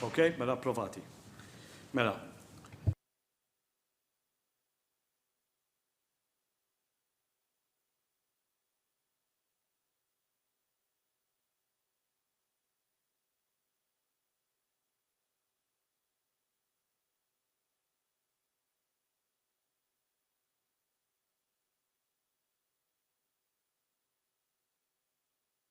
Ok, mela approvati. Mela.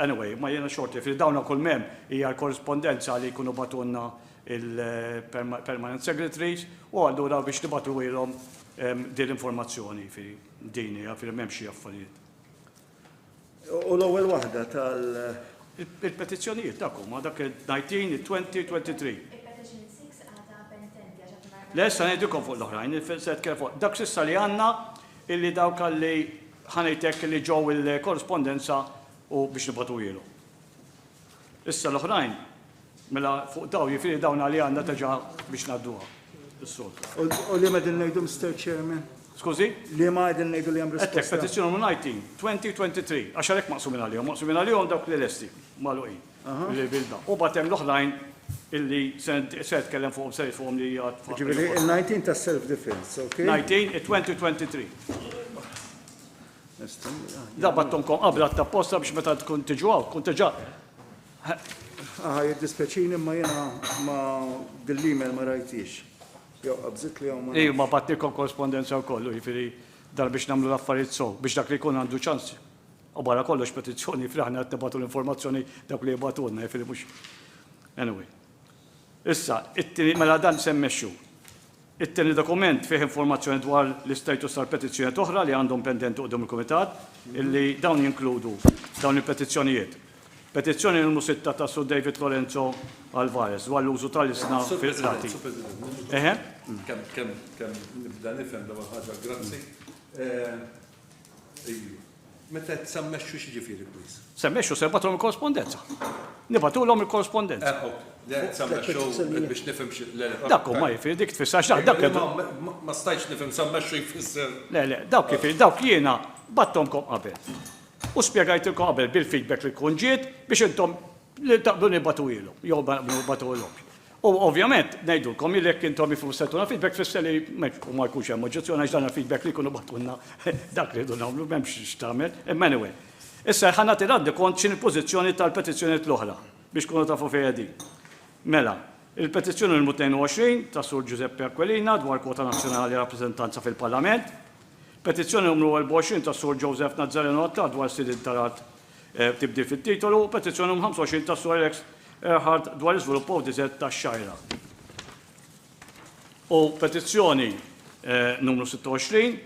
Anyway, ma jiena xorti, fil dawn ukoll m'hemm hija l-korrispondenza li jkunu bagħtulna il-permanent secretaries u allura biex nibagħtuhilhom din l-informazzjoni, jifieri din hija, jifieri m'hemmx xi affarijiet. U l-ewwel waħda tal- Il-petizzjonijiet dak huma, dak il-19, il-20, il-23. Il-petition 6 għadha pendenti għax għadna ma Le, issa ngħidilkom fuq l-oħrajn, se nitkellem fuq dak s'issa li għandna illi dawk li, ħa ngħid hekk, illi ġew il-korrispondenza u biex nibgħatuhielhom. Issa l-oħrajn, mela fuq dawn, jiġifieri dawn għalija għandna teġa' biex ngħadduha s-soltu. U liema qegħdin ngħidu, Mister Chairman? Skużi? Liema qegħdin ngħidu li hemm risposta? Għedtlek petizzjoni numru 19, 2023, għax għalhekk maqsumin għalihom, maqsumin għalihom dawk li lesti, magħluqin. U mbagħad hemm l-oħrajn illi se tkellem fuqhom se fuqhom li hija. Ġifieri il-19 ta' self defense, okay? 19 it-2023. Da battonkom qabla ta' posta biex meta tkun tiġu hawn, tkun tiġa. Aha, jiddispeċini ma jiena ma dil-email ma rajtix. Jew qabżit li hawn ma. Ej, ma battilkom korrespondenza wkoll, jiġifieri dar biex nagħmlu l-affarijiet sew, biex dak li jkun għandu ċans U barra kollox petizzjoni jifieri aħna qed nibgħatu l-informazzjoni dawk li jibgħatulna jifieri mhux anyway. Issa, it-tieni mela dan se mmexxu. It-tieni dokument fih informazzjoni dwar l-istatus tal-petizzjonijiet oħra li għandhom pendenti quddiem il-Kumitat, illi dawn jinkludu dawn il-petizzjonijiet. Petizzjoni numru 6 ta' Sur David Lorenzo Alvarez dwar l-użu tal-ilsna fil-qrati. Eħe? Kemm kemm kemm nibda nifhem l-ewwel ħaġa, grazzi. Meta qed sammexxu x'jiġifieri please? Semmexxu se nbagħtulhom il-korrespondenza. Nibgħatulhom il-korrespondenza. biex nifhem Dak huma jifieri dik tfisser x'dak dak. Ma stajtx nifhem sammexxu jfisser. Le le, dawk jifieri dawk jiena bagħtthomkom qabel. U spjegajtilkom qabel bil-feedback li tkun ġiet biex intom taqblu nibgħatuhielhom jew ma nibgħatuhilhomx. U ovvjament, ngħidulkom li jekk intom ifus se tuna feedback tfisser li ma jkunx hemm oġġezzjoni għax dan il-feedback li jkunu bagħtulna dak li rridu nagħmlu m'hemmx x'tagħmel. Imma anyway. Issa ħa nagħti rendikont x'inhi l-pożizzjoni tal-petizzjonijiet l-oħra biex tkunu tafu fejn qegħdin. Mela, il-petizzjoni numru 22 tas-Sur Giuseppe Aquilina dwar kwota nazzjonali rappreżentanza fil-Parlament. Petizzjoni numru 24 tas-Sur Joseph Nazzareno Attard dwar sidien tal-art Tibdil fit-titolu u petizzjoni num 25 ta' Sur Alex Earhart dwar l-iżvilupp ODZ tax-Xgħajra u petizzjoni numru 26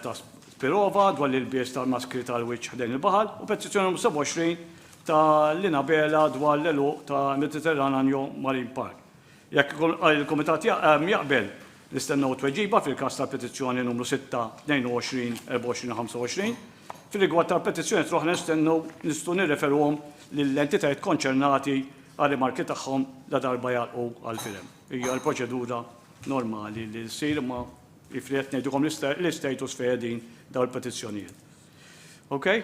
ta' Spirova dwar l-ilbies tal-maskri tal-wiċċ ħdejn il-baħar u petizzjoni numru 27 ta' Lina Bela dwar l-għeluq ta' Mediterrananjo Marine Park. Jekk il-Kumitat jaqbel, nistennew tweġiba fil-każ tal-petizzjoni numru 6-22-24-25. Fir-rigward tal-petizzjonijiet l-oħra nistennew nistgħu nirreferuhom lill-entitajiet konċernati għar-rimarki tagħhom ladarba jagħlqu għall-firem. Hija l-proċedura normali li ssir imma jiġifieri qed ngħidulkom l-istatus fejn qegħdin dawn il-petizzjonijiet. Okay?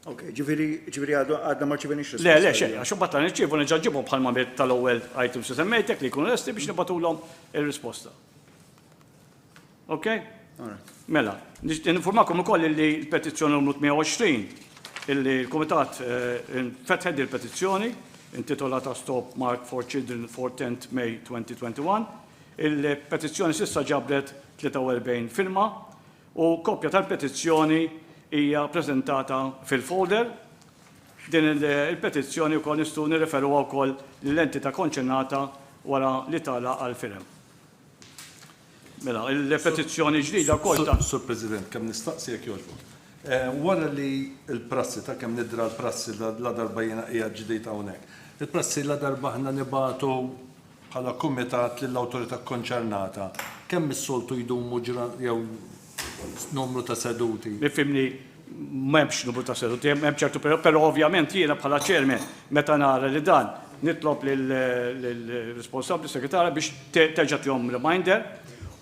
Ok, ġifieri ġifieri għadna ma rċivenix risposta. Le, le, xejn, għax imbagħad għan irċievu nerġa' ġibhom bħal ma tal-ewwel items li semmejtek li jkunu lesti biex nibatulhom ir-risposta. Ok? Mela, informakom ukoll li l-petizzjoni numru 120 illi l-Kumitat eh, fetħed il-petizzjoni intitolata Stop Mark for Children for 10 May 2021. Il-petizzjoni sissa ġabret 43 firma u kopja tal-petizzjoni hija ppreżentata fil-folder. Din il-petizzjoni wkoll nistgħu nirreferuha wkoll lill-entità konċernata wara li tagħlaq għall-firem. Mela, il-petizzjoni ġdida wkoll ta. Sur President, kemm nistaqsi jekk jogħġbok. Wara li l-prassi ta' kemm nidra l-prassi ladarba jiena qiegħed ġdid hawnhekk, il-prassi ladarba aħna nibagħtu bħala kumitat lill-awtorità kkonċernata, kemm is-soltu jdumu ġra jew numru ta' seduti? Ifhimni, m'hemmx numru ta' seduti, hemm ċertu perjodu, però ovvjament jiena bħala chairman meta nara li dan nitlob lill-responsabbli, segretarja biex terġa' tihom reminder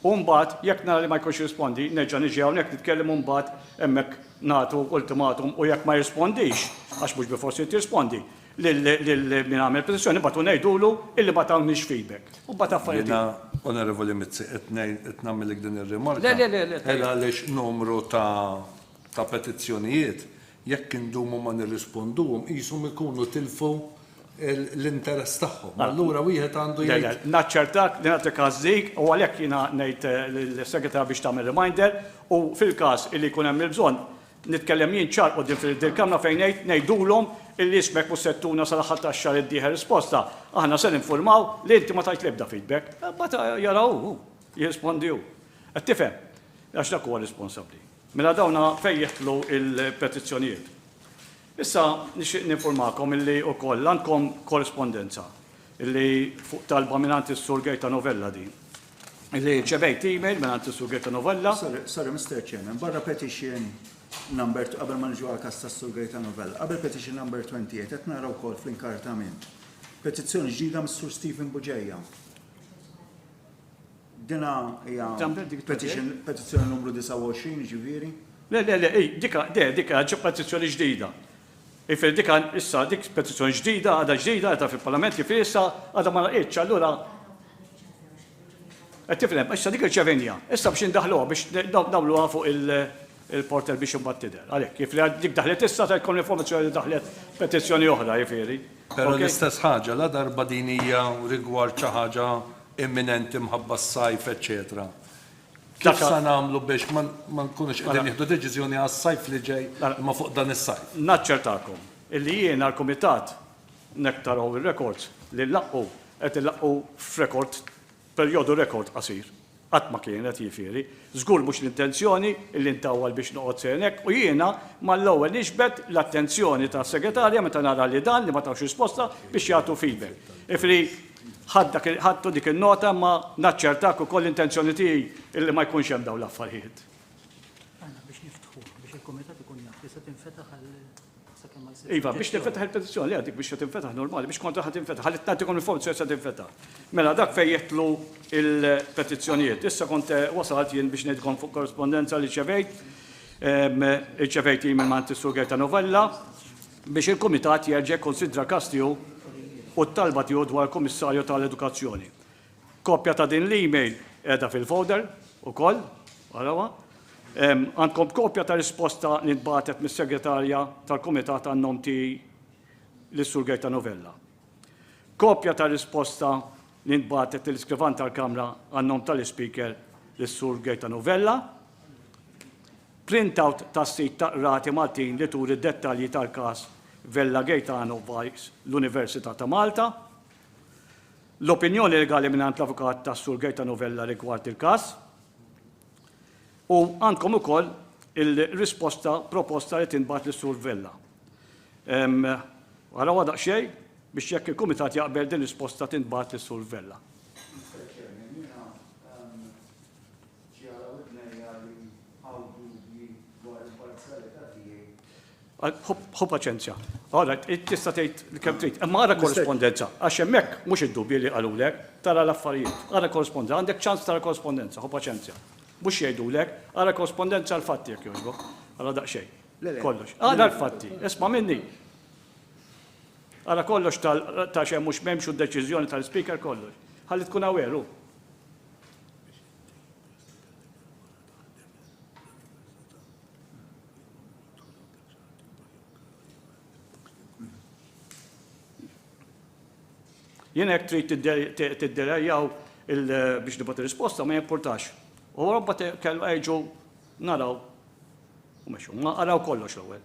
u mbagħad jekk nara li ma jkunx jirrispondi nerġa' niġi hawnhekk nitkellem u mbagħad hemmhekk nagħtu ultimatum u jekk ma jirrispondix, għax mhux bilfors irid jirrispondi, lil min għamel petizzjoni mbagħad u ngħidulu illi ma tawniex feedback. U mbagħad affarijiet. Jiena, Onorevoli Mizzi, qed ngħid qed nagħmilek din ir-rimarka. Le, le, le, le. Għela għaliex numru ta' ta' petizzjonijiet jekk indumu ma nirrisponduhom qishom ikunu tilfu l-interess tagħhom. Allura wieħed għandu jgħid. Le, le, naċċertak li nagħti każ dik u għalhekk jiena ngħid lill-Segretarja biex tagħmel reminder u fil-każ illi jkun hemm il-bżonn Nitkellem jien ċar quddiem fil dil-Kamra fejn ngħid, ngħidulhom illi ismek mhux se tuna sal-aħħar tax-xahar id-dieħel risposta. Aħna se ninfurmaw li inti ma tajt l-ebda feedback. Imbagħad jara hu, hu jirrispondi hu. Qed tifhem? Għax dak huwa responsabbli. Mela dawna fejn jidħlu l-petizzjonijiet. Issa nixtieq ninfurmakom illi wkoll għandkom korrispondenza illi fuq talba mingħand is-Sur Gaetano Vella din. Li rċevejt email minn għand Sur Gaetano Vella. Sorry, sorry, Mr. Chairman, barra petition number, qabel ma nġu għal kas ta' Sur Gaetano Vella, qabel petition number 28, qed nara wkoll fl-inkartament. Petizzjoni ġdida mis Sur Stephen Buġeja. Dina hija petizzjoni numru 29 ġifieri. Le, le, le, dika, de, dika, ġo petizzjoni ġdida. Jifieri dik għad issa dik petizzjoni ġdida, għadha ġdida, għadha fil-Parlament, jifieri issa għadha ma laqgħitx, allura qed tifhem, issa dik irċevejniha, issa biex indaħħluha biex nagħmluha fuq il-portal biex imbagħad tidher. Għalhekk, jifieri dik daħlet issa se jkollna informazzjoni li daħlet petizzjoni oħra, jifieri. Però l-istess ħaġa, ladarba din hija rigward xi ħaġa imminenti mħabba s-sajf eċċetera, Kif se nagħmlu biex ma nkunux qegħdin nieħdu deċiżjoni għas-sajf li ġej imma fuq dan is-sajf? Naċċertakom illi jien għall-Kumitat, hekk taraw ir-rekords li nlaqqu, qed inlaqqu f'rekord, perjodu rekord qasir. Qatt ma kienet, jiġifieri, żgur mhux l-intenzjoni illi ntawwal biex noqgħod sejn hekk u jiena mal-ewwel niġbed l-attenzjoni tas-Segretarja meta nara li dan, li ma tawx risposta, biex jagħtu feedback. Jiġifieri, Ħadtu dik in-nota imma naċċertak ukoll l-intenzjoni tiegħi illi ma jkunx hemm dawn l-affarjiet. Iva, biex tinfetaħ il-petizzjoni, le dik biex se tinfetaħ normali, biex kontra ħa tinfetaħ, ħalli nagħtikom informazzjoni se tinfetaħ. Mela dak fejn jitlu il-petizzjonijiet. Issa kont eh, wasalt jien biex ngħidkom fuq korrespondenza li ċevejt, ehm, ċevejt email ma' Sur Gerta Novella, biex il-Kumitat jerġa' jikkunsidra każ tiegħu u t-talba tiegħu dwar il-Kummissarju ta' l-Edukazzjoni. Kopja ta' din l-email qiegħda fil-folder ukoll, arawha. Għandkom kopja ta' risposta li ntbagħtet mis-Segretarja tal-Kumitat għan-nom tiegħi lis-Sur Gaetano Vella. Kopja ta' risposta li ntbagħtet lill-Iskrivan tal-Kamra għan-nom ta' l-Ispeaker lis-Sur Gaetano Vella. Printout tas-sit tal-Qrati Maltin li turi d-dettalji tal-każ Vella Gaetano vice l-Università ta' Malta. L-opinjoni legali mingħand l-avukat tas-Sur Gaetano Vella rigward il-każ. U għandkom ukoll il-risposta proposta li tintbagħat lis-Sur Vella. Arawha daqsxejn biex jekk il-Kumitat jaqbel din risposta tintbagħat lis-Sur Vella. Ġiegħel ibnejja li hawn dubji dwar il-parzjalità tiegħi. Ħu paċenzja. All right, tista' tgħid kemm trid, imma ara korrispondenza, għax hemmhekk mhux id-dubji li qalulek, tara l-affarijiet. Ara korrispondenza, għandek ċans tara korrispondenza, ħu paċenzja. Mhux jgħidulek, ara korrispondenza l-fatti jekk jogħġbok. Ara daqsxejn. Kollox. Ara l-fatti, isma' minni. Ara kollox ta' xejn mhux m'hemmx u d-deċiżjoni tal-Speaker kollox. Ħalli tkun aware hu. Jien hekk trid tidderejjaw biex nibgħat risposta ma jimpurtax. U robba kellu għajġu naraw u meċu, ma għaraw kollox l-ewwel.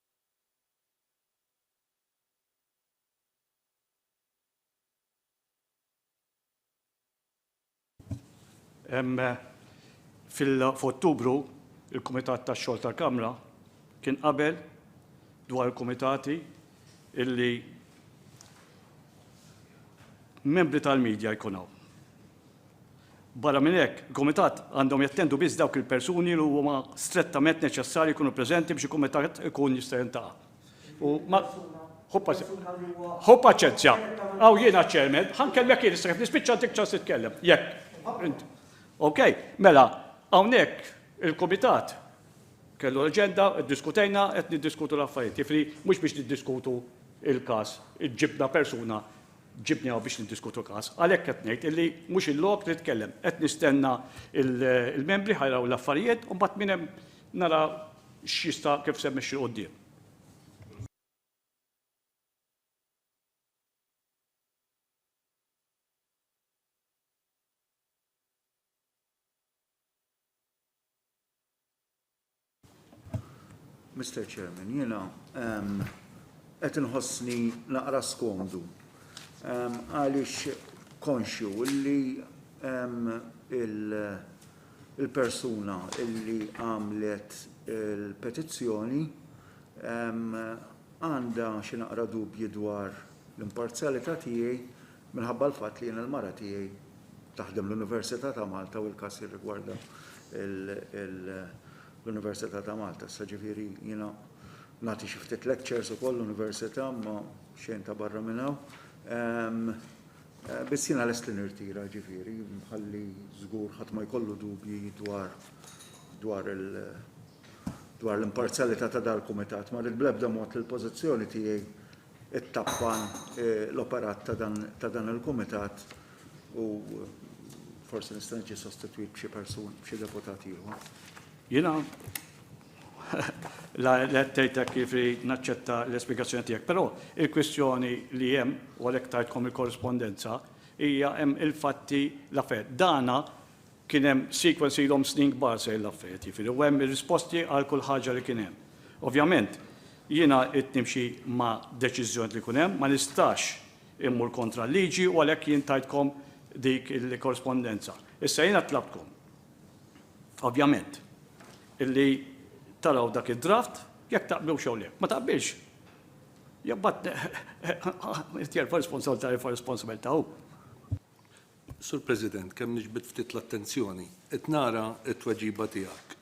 F'Ottubru, il-Kumitat tax-Xogħol tal-Kamra kien qabel dwar il-kumitati li membri tal-media jkun hawn. Barra minn hekk, il-kumitat għandhom jattendu biss dawk il-persuni li huma strettament neċessarji jkunu preżenti biex il-kumitat ikun jista' jiltaqa'. U ma Ħu pas- persuna li huwa Ħu paċenzja. strettament Hawn jiena ċ-chairman, ħa nkellmek jien issa kif nispiċċa ntik ċans titkellem. Jekk. Int. Ok, mela, hawnhekk il-kumitat kellu l-aġenda, iddiskutejna, qed niddiskutu l-affarijiet. Jiġifieri mhux biex niddiskutu l-każ, ġibna persuna ġibni hawn biex niddiskutu każ. Għalhekk qed ngħid illi mhux il-lok li nitkellem. Qed nistenna l-membri ħa jaraw l-affarijiet u mbagħad minn hemm nara x'jista' kif se mmexxi 'l quddiem. Mr. Chairman, jiena ehm, qed inħossni naqra skomdu ehm, għaliex konxju li ehm, il-persuna illi għamlet il-petizzjoni għandha xi naqra dubji dwar l-imparzjalità tiegħi Minħabba l-fatt li jiena l-mara tiegħi taħdem l-Università ta' Malta u l-każ jirrigwarda l-Università ta' Malta. Issa ġifieri jiena nagħti xi ftit lectures ukoll l-Università imma xejn ta' barra minn hawn. Biss jiena lest li nirtira ġifieri ħalli żgur ħadd ma jkollu dubji dwar dwar il dwar l-imparzjalità ta' dal-Kumitat. Ma rrid bl-ebda mod li l-pożizzjoni tiegħi ittappan l-operat ta' dan il-kumitat u forsi nista' niġi sostitwit b'xi persun, b'xi deputat ieħor. Jiena la qed tgħidlek kif li naċċetta l-ispjegazzjoni tiegħek, però il-kwistjoni li hemm u għalhekk tajtkom il-korrispondenza hija hemm il-fatti l-affarijiet. Dana Kien hemm sequence ilhom snin kbar sejrin l-affarijiet, jifieri, u hemm ir-risposti għal kull ħaġa li kien hemm. Ovvjament, jiena ridt nimxi ma' deċiżjonijiet li jkun hemm, ma nistax immur kontra l-liġi u għalhekk jien tajtkom dik il-korrispondenza. Issa jiena tlabtkom, ovvjament, illi taraw dak id-draft, jekk taqblux jew le. Ma taqbilx, imbagħad jerfa' responsabbiltà jerfa' responsabbiltà hu. Sur President, kemm niġbed ftit l-attenzjoni. Qed nara t-tweġiba tiegħek.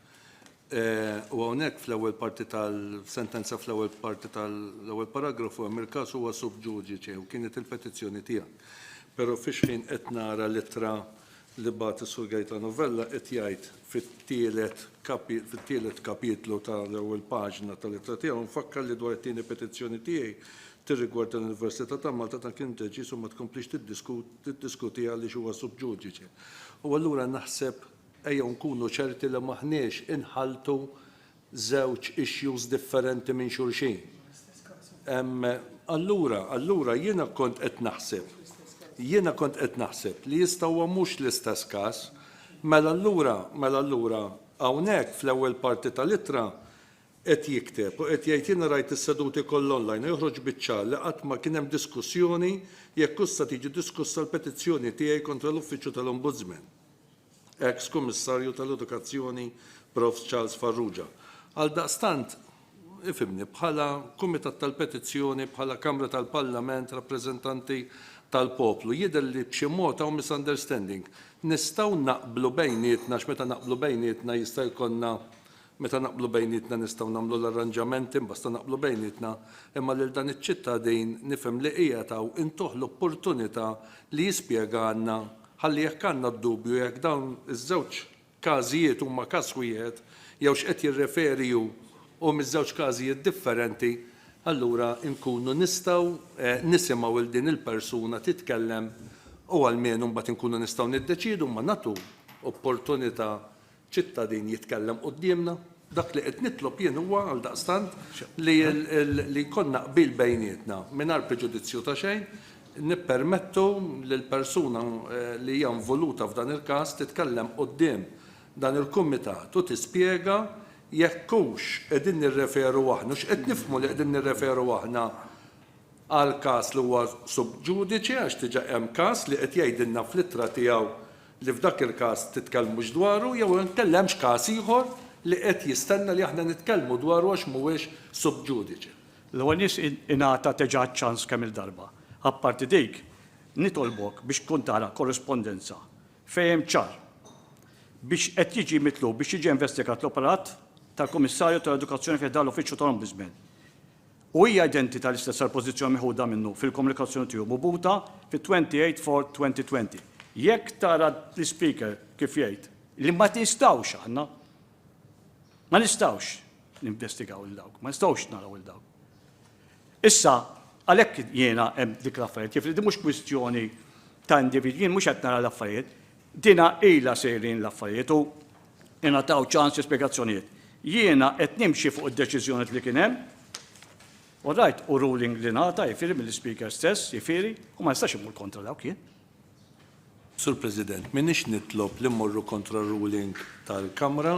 U hawnhekk fl-ewwel parti tal-sentenza fl-ewwel parti tal-ewwel paragrafu hemm il-każ huwa sub judice u kienet il-petizzjoni tiegħek. Però fix-xħin qed nara l-ittra li bagħat is-Sur Gaetano Vella qed jgħid fit-tielet fit-tielet kapitlu tal-ewwel paġna tal-ittra tiegħu nfakkar li dwar it-tieni petizzjoni tiegħi tirrigwarda l-Università ta' Malta dan kien deċiż u ma tkomplix tiddiskuti tiddiskutih għaliex huwa sub judice. U allura naħseb ejjew nkunu ċerti li m'aħniex inħalltu żewġ issues differenti minn xulxin. Allura, allura jiena kont qed naħseb, jiena kont qed naħseb li jista' huwa mhux l-istess każ, mela allura, mela allura hawnhekk fl-ewwel parti tal-ittra qed jikteb u qed jgħid jiena rajt is-seduti kollha online u joħroġ biċ-ċar li qatt ma kien hemm diskussjoni jekk hux sa tiġi diskussa l-petizzjoni tiegħi kontra l-Uffiċċju tal-Ombudsman. Eks Kummissarju tal-Edukazzjoni Prof. Charles Farrugia. Għaldaqstant, ifhimni, bħala Kumitat tal-Petizzjoni, bħala Kamra tal-Parlament, rappreżentanti tal-poplu, jidher li b'xi mod hawn misunderstanding. Nistgħu naqblu bejnietna għax meta naqblu bejnietna jista' jkollna Meta naqblu bejnietna nistgħu nagħmlu l-arranġamenti mbasta naqblu bejnietna imma lil dan iċ-ċittadin nifhem li qiegħed hawn intuh l-opportunità li jispjegalna ħalli jekk għandna d-dubju jekk dawn iż-żewġ każijiet huma każ wieħed jew x'qed jirreferi hu u miż-żewġ każijiet differenti allura nkunu nistgħu nisimgħu lil din il-persuna titkellem u almenu mbagħad inkunu nistgħu niddeċiedu imma nagħtu opportunità ċittadin jitkellem quddiemna. Dak li qed nitlob jien huwa, għaldaqstant, li li jkollna qbil bejnietna, mingħajr preġudizzju ta' xejn, nippermettu li l-persuna li hija involuta f'dan il-każ titkellem quddiem dan il-kumitat u tispjega jekk hux qegħdin nirreferu aħna, hux qed nifhmu li qegħdin nirreferu aħna għal każ li huwa sub judice għax diġà hemm każ li qed jgħidilna fl-ittra tiegħu li f'dak il-każ titkellmux dwaru jew inkella hemmx każ ieħor li qed jistenna li aħna nitkellmu dwaru għax mhuwiex sub judice? L-ewwel nies ingħata teġa ċ-ċans kemm-il darba. Apparti dik, nitolbok biex tkun tara korrispondenza fejn hemm ċar biex qed jiġi mitlub biex jiġi investigat l-operat tal-Kummissarju tal-Edukazzjoni fi ħdan l-Uffiċċju tal-Ombudsman. u hija identita l-istess għall-pożizzjoni meħuda minnu fil-Komunikazzjoni tiegħu mubuta fit-28 Fort 2020. Jekk tara l-Ispeaker kif jgħid li ma nistgħux aħna, ma nistgħux ninvestigaw lil dawk, ma nistgħux naraw lil dawk. Issa, għalhekk jiena hemm dik l-affarijiet, jiġifieri din mhux kwistjoni ta' individwi, jien mhux qed nara l-affarijiet, Dina ilha sejrin l-affarijiet u ingħataw ċans l-ispjegazzjonijiet. Jiena qed nimxi fuq id-deċiżjoniet li kien hemm. All right, hu ruling li ngħata, jifieri mill-Ispeaker stess, jifieri, u ma nistax immur kontra dawk jien. Sur President, m'iniex nitlob li mmorru kontra ruling tal-Kamra,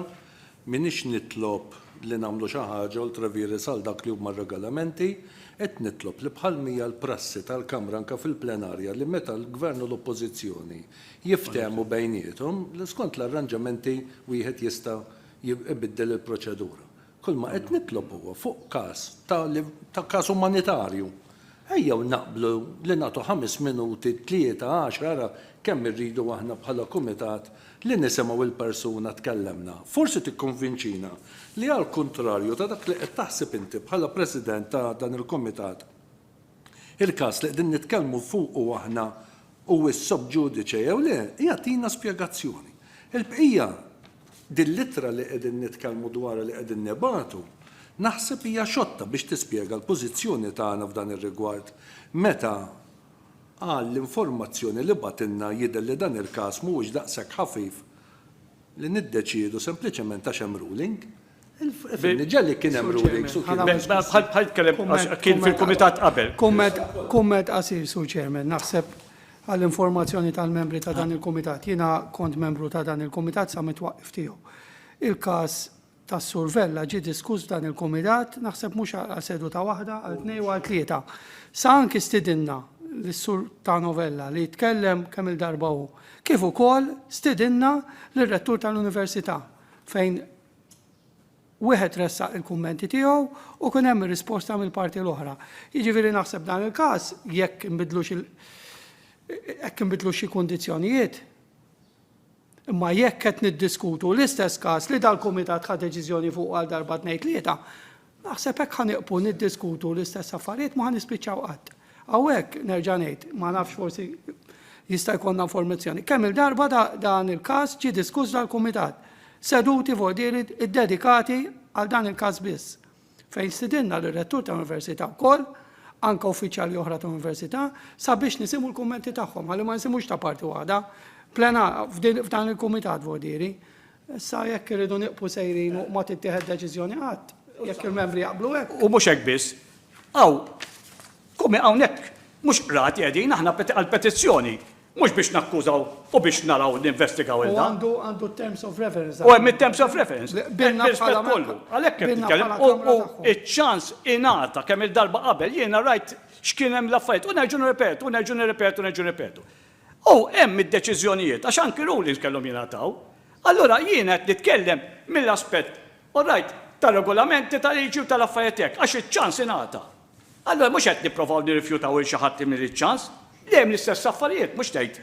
m'iniex nitlob li nagħmlu xi ħaġa ultra vires għal dak li huma r-regolamenti, qed nitlob li bħal m'hija l-prassi tal-Kamra anke fil-plenarja li meta l-Gvern u l-Oppożizzjoni jiftehmu bejniethom li skont l-arranġamenti wieħed jista' ibiddel il-proċedura. Kull ma qed nitlob huwa fuq każ ta' li ta' każ umanitarju. Ejjew naqblu li nagħtu ħames minuti, tlieta, għaxra, ara kemm irridu aħna bħala kumitat li nisimgħu l-persuna tkellemna. Forsi tikkonvinċina li għall-kuntrarju ta' dak li qed taħseb inti bħala President ta' dan il-kumitat, Il-każ li qegħdin nitkellmu fuqu aħna huwiex sub judice jew le, jagħtina spjegazzjoni. Il-bqija, din l-ittra li qegħdin nitkellmu dwarha li qegħdin nibagħtu, naħseb hija xotta biex tispjega l-pożizzjoni tagħna f'dan ir-rigward meta għal l-informazzjoni li bagħtilna jidher li dan il-każ mhuwiex daqshekk ħafif li niddeċiedu sempliċement għax hemm ruling. Fil-Niġer li kien hemm rulings u kien hemm. Bħal tkellem għax kien fil-kumitat qabel. Kumment qasir, Sur Chairman, naħseb għall-informazzjoni tal-membri ta' dan il-kumitat. Jiena kont membru ta' dan il-kumitat sa mit-twaqqif tiegħu. Il-każ tas-Sur Vella ġie diskuss f'dan il-kumitat, naħseb mhux għal seduta waħda, għal tnejn u għal tlieta. Sa anki stidinna lis-Sur Tano Vella li tkellem kemm-il darba hu, kif ukoll stidinna lir-Rettur tal-Università. fejn wieħed ressaq il-kummenti tiegħu u kien hemm ir-risposta mill-parti l-oħra. Jiġifieri naħseb dan il-każ jekk inbidlux il- hekk inbidlu xi kundizzjonijiet. Imma jekk qed niddiskutu l-istess każ li dal-kumitat ħa deċiżjoni fuq għal darba tnejn tlieta, Naħseb hekk ħa nieqfu niddiskutu l-istess affarijiet ma ħa nispiċċaw qatt. Hawnhekk, nerġa' ngħid, ma nafx forsi jista' jkollna informazzjoni. Kemm-il darba dan il-każ ġie diskuss dal-kumitat. Seduti vojdieri ddedikati għal dan il-każ biss. Fejn stidinna lir-rettur ta' università wkoll, anke uffiċjali oħra ta' università, sabiex nisimgħu l-kummenti tagħhom, ħalli ma nisimgħux ta' parti waħda, plenar, f'dan il-kumitat vojdieri. Issa jekk irridu nieqfu sejrin u ma tittieħed deċiżjoni qatt, jekk il-Membri jaqblu hekk. U mhux hekk biss, hawn, komi hawnhekk, mhux qrati qegħdin, aħna għall-petizzjoni, mhux biex nakkużaw u biex naraw ninvestigaw il-dan. U għandu għandu terms of reference. U hemm it-terms of reference. Bilna bħala kollu. Għalhekk qed nitkellem u iċ-ċans ingħata kemm il-darba qabel jiena rajt x'kien hemm l-affarijiet u nerġgħu nirrepetu, nerġgħu nirrepetu, nerġgħu nirrepetu. U hemm id-deċiżjonijiet, għax anki rulings kellhom jingħataw. Allura jiena qed nitkellem mill-aspett, all right, tar-regolamenti, tal-liġi u tal-affarijiet hekk, għax iċ-ċans ingħata. Allura mhux qed nipprovaw nirrifjutaw lil xi ħadd li mingħand iċ-ċans. Dejjem l-istess affarijiet, mhux tgħid.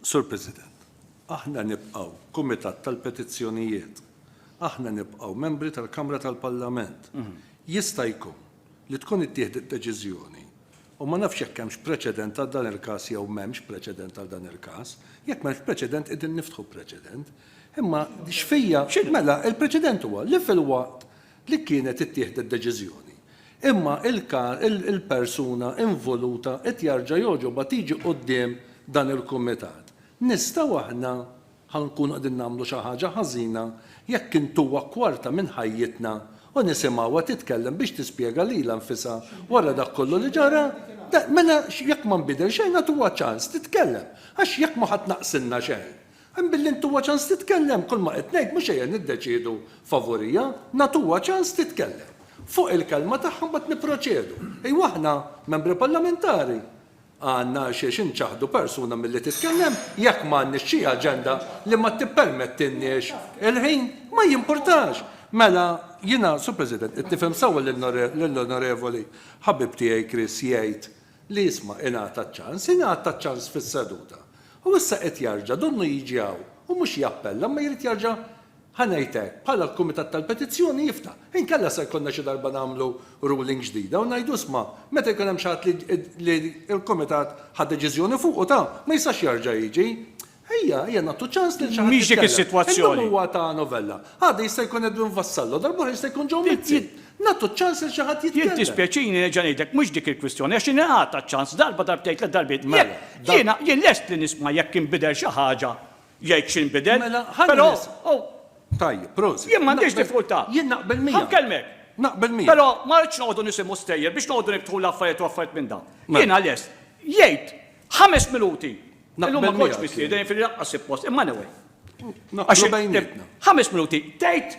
Sur President, aħna nibqgħu Kumitat tal-Petizzjonijiet. Aħna nibqgħu membri tal-Kamra tal-Parlament. Jista' jkun li tkun ittieħdet deċiżjoni U ma nafx jekk hemmx preċedent għal dan il-każ jew m'hemmx preċedent għal dan il-każ. Jekk m'hemmx preċedent qegħdin niftħu preċedent. Imma x'fija, mela il-preċedent huwa li filwaqt li kienet ittieħdet deċiżjoni, imma il-persuna involuta qed jarġa' jogħġobha tiġi quddiem dan il-kumitat, nistgħu aħna Ħa nkunu qegħdin nagħmlu xi ħaġa ħażina jekk intuha kwarta minn ħajjitna u nisimgħuha titkellem biex tispjega lilha nfisha wara dak kollu li ġara. Le, mela jekk ma nbidel xejn agħtuha ċans titkellem, għax jekk mhu ħa tnaqqsilna xejn. Hemm billi ntuha ċans titkellem, kull ma qed ngħid mhux ejja niddeċiedu favuriha, nagħtuha ċans titkellem. Fuq il-kelma tagħha mbagħad nipproċedu. Ejwa aħna, Membri Parlamentari, Għandna għalxiex inċaħħdu persuna milli titkellem jekk m'għandniex xi aġenda li ma tippermettilniex il-ħin. Ma jimpurtax! Mela, jiena, Sur President, qed nifhem sewwa lill-Onorevoli ħabib tiegħi Chris jgħid li isma' ingħata ċ-ċans. Ingħata ċ-ċans fis-seduta. U issa qed jarġa' donnu jiġi hawn u mhux jappella imma jrid jarġa' Ħa ngħid hekk, bħala l-Kumitat tal-Petizzjoni jiftaħ. Inkella se jkollna xi darba nagħmlu ruling ġdida u ngħidu isma', meta jkun hemm xi ħadd li l-Kumitat ħa deċiżjoni fuqu ta', ma jistax jerġa' jiġi. Ejja, ejja nagħtu ċans lil xi ħadd jitkellem. Illum huwa ta' Novella. Għada jista' jkun Edwin Vassallo, darba oħra jista' jkun Joe Mizzi. Nagħtu ċ-ċans lil xi ħadd jitkellem. Jien tispjaċini nerġa' ngħidlek mhux dik il-kwistjoni għax ingħata ċ-ċans darba, darbtejn, tliet darbiet. Jekk, jiena, jien lest li nisma' jekk inbidel xi ħaġa jgħid x'inbidel. Mela, ħa nirrisq. Tajjeb, prosit. Jien m'għandix diffikultà. Jien naqbel miegħek. Ħa nkellmek. Naqbel miegħek. Però ma rridx noqogħdu nisimgħu stejjer biex noqogħdu niftħu l-affarijiet u affarijiet minn dawn. Jiena lest. Jgħid ħames minuti. Illum ma kontx mistieden, jiġifieri lanqas suppost, imma anyway. Naqblu bejnietna. Ħames minuti. Tgħid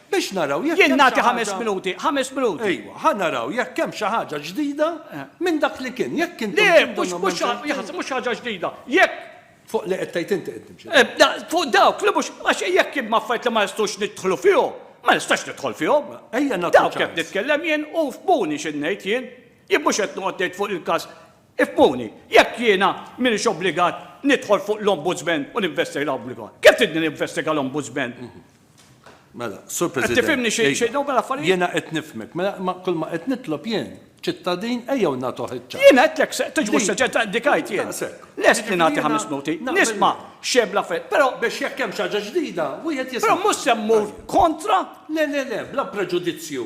Biex naraw jekk hemm xi ħaġa. Jien nagħti ħames minuti, ħames minuti. Ejwa, ħa naraw jekk hemm xi ħaġa ġdida minn dak li kien. Jekk intom tridunhom hemm xejn ġdid. Le, mhux xi ħaġa ġdida. Jekk. Fuq li qed tgħid inti qed nimxi. Fuq dawk li mhux. Għax jekk hemm affarijiet li ma nistgħux nidħlu fihom, ma nistax nidħol fihom. Ejja nagħtu ċans. Dawk qed nitkellem jien u fhmuni x'qed ngħid jien. Jien mhux qed noqgħod ngħid fuq il-każ. Ifhmuni, jekk jiena m'iniex obbligat nidħol fuq l-Ombudsman u ninvestiga l-Ombudsman, kif tridni ninvestiga l-Ombudsman? Mela, Sur President. Qed tifhimni xi xejn dawn l-affarijiet? Jiena qed nifhmek. Mela kull ma qed nitlob jien, ċittadin ejjew nagħtuh iċ-ċans. Jiena għedtlek se tiġbux seġġett ta' indikajt jien. Lest li nagħti ħames minuti, nisma' x'hemm l-affarijiet, però. Biex jekk hemm xi ħaġa ġdida, wieħed jista'. Però mhux se mmur kontra. Le, le, le, bla preġudizzju.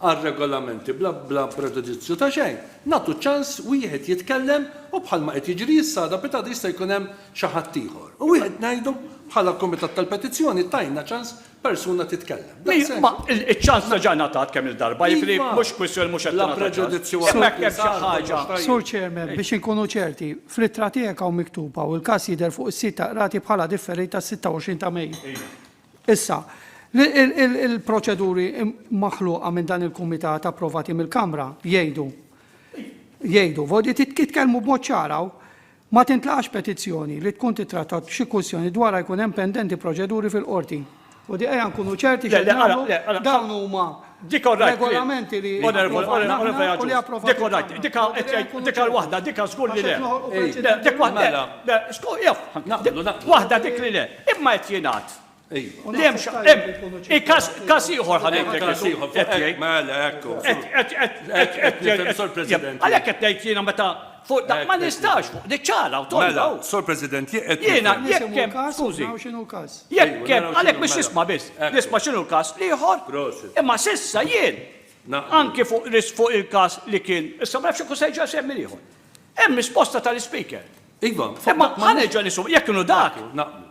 għal regolamenti bla preġudizzju ta' xejn, nagħtu ċans wieħed jitkellem u bħalma qed jiġri issa għada pitada jista' jkun hemm xi ħadd ieħor u wieħed ngħidu bħala kumitat tal-petizzjoni tajna ċans persuna titkellem. Daqshekk. Ma iċ-ċans diġà ngħatat kemm-il darba, jiġifieri mhux kwistjoni mhux qed tingħata ċans. Bla preġudizzju għal dak li sar kollox tajjeb. Sur Chairman, biex inkunu ċerti, fl-ittra tiegħek hawn miktuba u l-każ jidher fuq is-sit tal-Qrati bħala differita s-26 ta' Mejju. Issa, il-proċeduri maħluqa minn dan il-Kumitat approvati mill-Kamra jgħidu, jgħidu, jitkellmu b'mod ċar hawn, ma tintlaqax petizzjoni li tkun tittrattat xi kwistjoni dwarha jkun hemm pendenti proċeduri fil-Qorti. U di ejja nkunu ċerti x'qed nagħmlu, dawn huma Dik all right. Regolamenti li. Onorevoli Abrams. Dik all right. Dik dik waħda, dik żgur li le. Dik waħda. Waħda dik li le. Imma qed jingħad. Lemx, każ ieħor ħanejtek. Mela, ekku. Għalhekk qed ngħid jiena meta Fuq dak ma nistax, fuq dik ċara u tonda. Mela, Sur President, jekk qed nifhem. Jiena jekk hemm każ, skużi. Naraw x'inhu l-każ. Jekk hemm, għalhekk biex tisma' biss. Nisma' x'inhu l-każ l-ieħor. Prosit. Imma s'issa jien, anki fuq risk fuq il-każ li kien, issa ma nafx jekk hu se jerġa' jsegħmi l-ieħor. Hemm risposta tal-Ispeaker. Iva, fuq dak ma. Imma ħa nerġa' nisma', jekk inhu dak. Naqblu.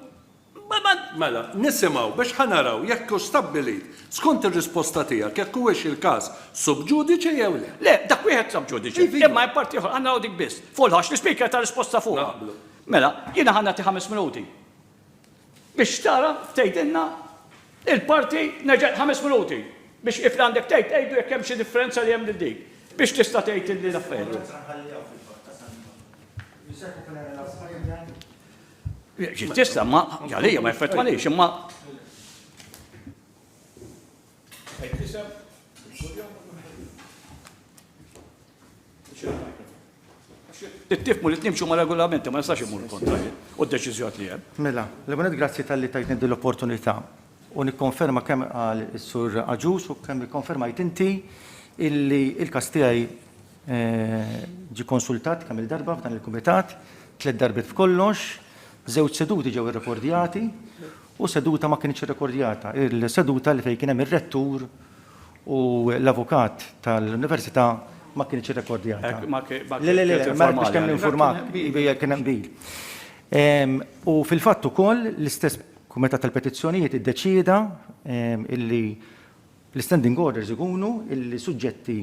Mela, nisimgħu biex ħa naraw jekk hux stabbilit, skont ir-risposta tiegħek, jekk huwiex il-każ sub judice jew le. Le, dak wieħed sub judice, imma hemm parti oħra, ħa naraw dik biss. Fuq il-ħoss, l-Ispeaker ta risposta fuqha. Naqblu. Mela, jiena ħa nagħti ħames minuti biex tara tgħidilna il-parti, nerġa' ħames minuti biex if li għandek tgħid tgħidu jekk hemm xi differenza li hemm lil dik, biex tista' tgħid li l-affarijiet. Ġiet tislem, ma għalija ma jeffettwanix, imma Tifmu li nimxu ma' regolamenti ma nistax imur kontra u d-deċiżjoni li hemm. Mela, l-ewwel grazzi tal-li tajtni din l-opportunità. u nikkonferma kemm qal is-Sur Agius u kemm ikkonfermajt inti illi l-każ tiegħi ġie konsultat kemm-il darba f'dan il-Kumitat, tliet darbiet b'kollox, żewġ seduti ġew irrekordjati u seduta ma kinitx irrekordjata, il-seduta li fejn kien hemm ir-Rettur u l-Avukat tal-Università ma kinitx irrekordjata. Le, le, le, ma rridx kemm ninfurmak, kien hemm qbil. U fil-fatt ukoll l-istess Kumitat tal-Petizzjonijiet iddeċieda illi l-Standing Orders ikunu illi suġġetti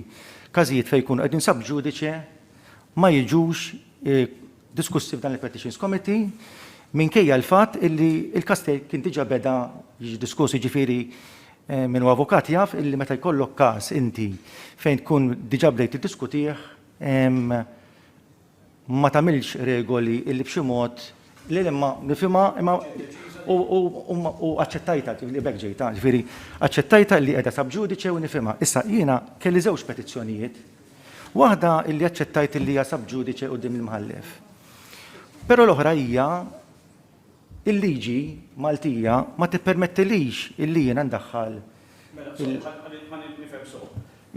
każijiet fejn jkunu qegħdin sub judice ma jiġux diskussi f'dan il-Petitions Committee minkejja l-fatt illi l-każ kien diġà beda jiġi diskuss, jiġifieri min hu avukat jaf illi meta jkollok każ inti fejn tkun diġà bdejt tiddiskutih ma tagħmilx regoli illi b'xi mod le le ma nifhimha imma u aċċettajtha li b'hekk ġejtha, ġifieri aċċettajtha li qiegħda sub judice u nifhimha. Issa jiena kelli żewġ petizzjonijiet, waħda illi aċċettajt illi hija sub judice quddiem il-Mħallef. Però l-oħra hija Il-liġi Maltija ma tippermettilix illi jiena ndaħħal il-. Mela, sorry, ħa nifhem sew.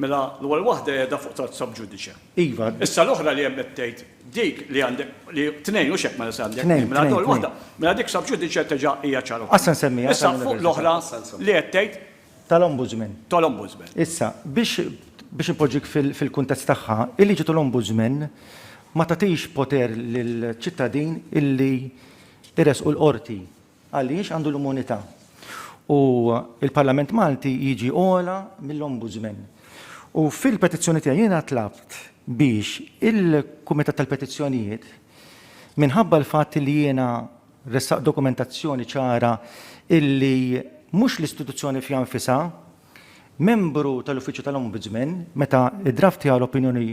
Mela, l-ewwel waħda qiegħda fuq Tard Sub Judice. Iva. Issa l-oħra li hemm qed tgħid, dik li għandek, li tnejn hux hekk mela se għandek. Tnejn, tnejn, tnejn. Mela dik Sub Judice teġa' hija ċara wkoll. Għas se nsemmiha. Issa fuq l-oħra li qed tgħid, tal-Ombudsman. tal-Ombudsman. Issa, biex biex inpoġġik fil-kuntest tagħha, il-liġi tal-Ombudsman ma tagħtix poter lill-ċittadin illi jressqu l-Qorti għaliex għandu l-immunità. U l-Parlament Malti jiġi ogħla mill-Ombudsman. U fil-petizzjoni tiegħi jiena tlabt biex il-Kumitat tal-Petizzjonijiet minħabba l-fatt li jiena ressaq dokumentazzjoni ċara illi mhux l-istituzzjoni fiha nfisha, membru tal-Uffiċċju tal-Ombudsman, meta ddraftja l-opinjoni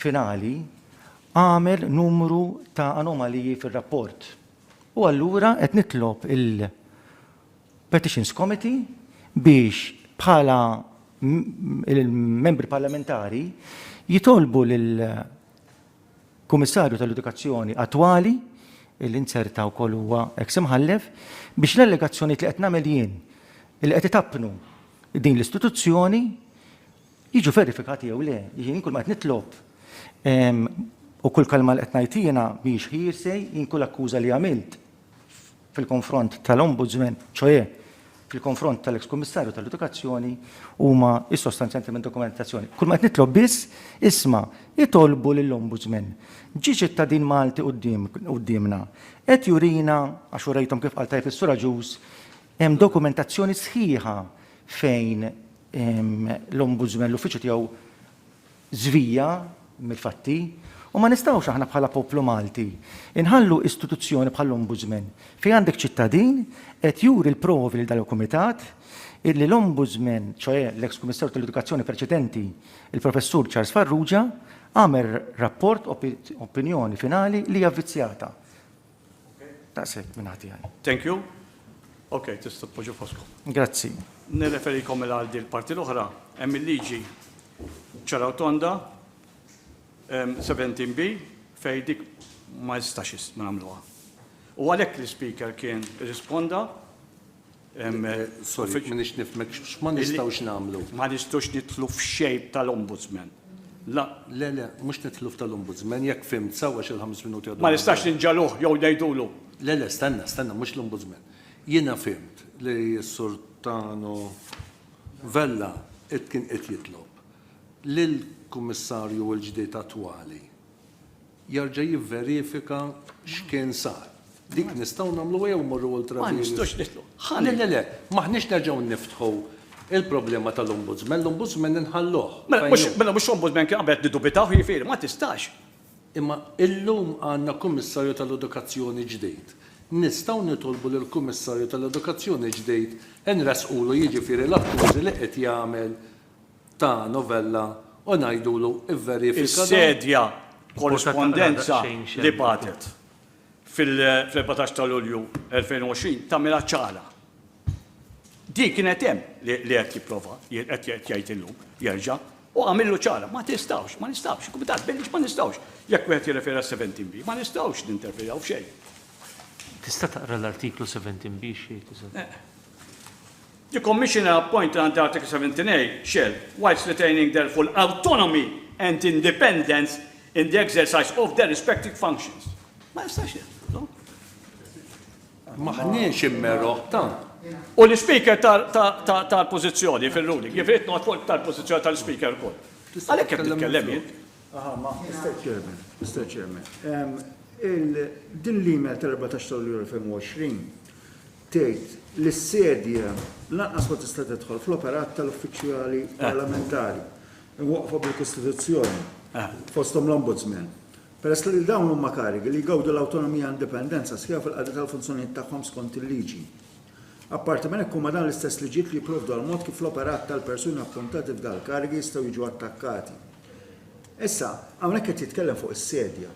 finali, għamel numru ta' anomaliji fir-rapport. U allura qed nitlob il-Petitions Committee biex bħala il-membri parlamentari jitolbu lil Kummissarju tal-Edukazzjoni attwali, li nzerta wkoll huwa eks Imħallef, biex l-allegazzjonijiet li qed nagħmel jien li qed itappnu din l-istituzzjoni jiġu verifikati jew le. Jien kull ma qed nitlob u kull kelma li qed ngħid jiena mhijiex hearsay, jien kull akkuża li għamilt fil-konfront tal-Ombudsman, ċoè fil-konfront tal-eks Kummissarju tal-Edukazzjoni huma issostanzjanti minn dokumentazzjoni. Kull ma qed nitlob biss isma' itolbu lill-Ombudsman. Ġie ċittadin Malti quddiem quddiemna. Qed jurina għax urejthom kif qal tajjeb is-Sur Agius hemm dokumentazzjoni sħiħa fejn ehm, l-Ombudsman l-uffiċċju tiegħu żvija mill-fatti u ma nistgħux aħna bħala poplu Malti nħallu istituzzjoni bħall-Ombudsman fejn għandek ċittadin qed juri l-provi lil dan il-Kumitat illi l-Ombudsman, ċoe l-eks Kummissarju tal-Edukazzjoni preċedenti, il-Professur Charles Farrugia, għamel rapport, opinjoni finali li hija vvizzjata. Daqshekk minn ħati għaj. Thank you. Ok, tista' tpoġġu foskom. Grazzi. Nirreferikom mela għal din parti l-oħra, hemm il-liġi ċaraw tonda 17B fejn dik ma jistax ma nagħmluha. U għalhekk l-Speaker kien risponda Sorry, m'iniex nifhmek, x'ma nistgħux nagħmlu? Ma nistgħux nidħlu f'shape tal-Ombudsman. La. Le, le, mhux nidħlu f'tal-Ombudsman, jekk fhimt sew għax il-ħames minuti għadhom. Ma nistax ninġagħluh jew ngħidulu. Le, le, stenna, stenna, mhux l-Ombudsman. Jiena fhimt li s-Sur Tano Vella qed kien qed jitlob lill-Kummissarju l-ġdid attwali jerġa' jivverifika x'kien sar. Dik nistgħu nagħmlu ejjew immorru ultra vires. Ma nistgħux nidħlu. Ħa le. Le le le. M'aħniex nerġgħu niftħu il-problema tal-Ombudsman. L-Ombudsman inħalluh. Mela mhux mela mhux Ombudsman kien qabel qed niddubitaw jiġifieri ma tistax. Imma illum għandna Kummissarju tal-Edukazzjoni ġdid. Nistgħu nitolbu lill-Kummissarju tal-Edukazzjoni ġdid inressqulu jiġifieri l-akkużi li qed jagħmel ta' novella u ngħidulu vverifika dan. Is-sedja Korrispondenza li bagħtet fil-14 ta' Lulju 2020 tagħmilha ċara. Din kienet hemm li qed jipprova, qed jgħid illum, jerġa', u għamillu ċara. Ma tistgħux, ma nistgħux, il-Kumitat Billiġ ma nistgħux, jekk wieħed jirreferi għal 17 B, ma nistgħux ninterferjaw f'xejn. Tista' taqra l-artiklu 17 B x'jgħid, eżatt? The Commissioner appointed under Article 17a shall, whilst retaining their full autonomy and independence in the exercise of their respective functions. Ma jistax jagħmlu. M'aħniex immeroħ tant. U l-Speaker tal-pożizzjoni fir-ruling, jiġifieri qed noqgħod fuq tal-pożizzjoni tal-Speaker ukoll. Għalhekk qed nitkellem jien. Aha, ma Mr. Chairman, Mr. Chairman. Din l-email tal-14 ta' Lulju 2020 tgħid li s-sedja lanqas ma tista' tidħol fl-operat tal-uffiċjali parlamentari mwaqqfa bil-Kostituzzjoni, fosthom l-Ombudsman, peress li dawn huma karigi li jgawdu l-awtonomija u indipendenza sħiħa fil-qadi tal-funzjonijiet tagħhom skont il-liġi. Apparti minn hekk, huma dawn l-istess liġijiet li jipprovdu għall-mod kif l-operat tal-persuni appuntati f'dal-karigi jistgħu jiġu attakkati. Issa, hawnhekk qed jitkellem fuq is-sedja.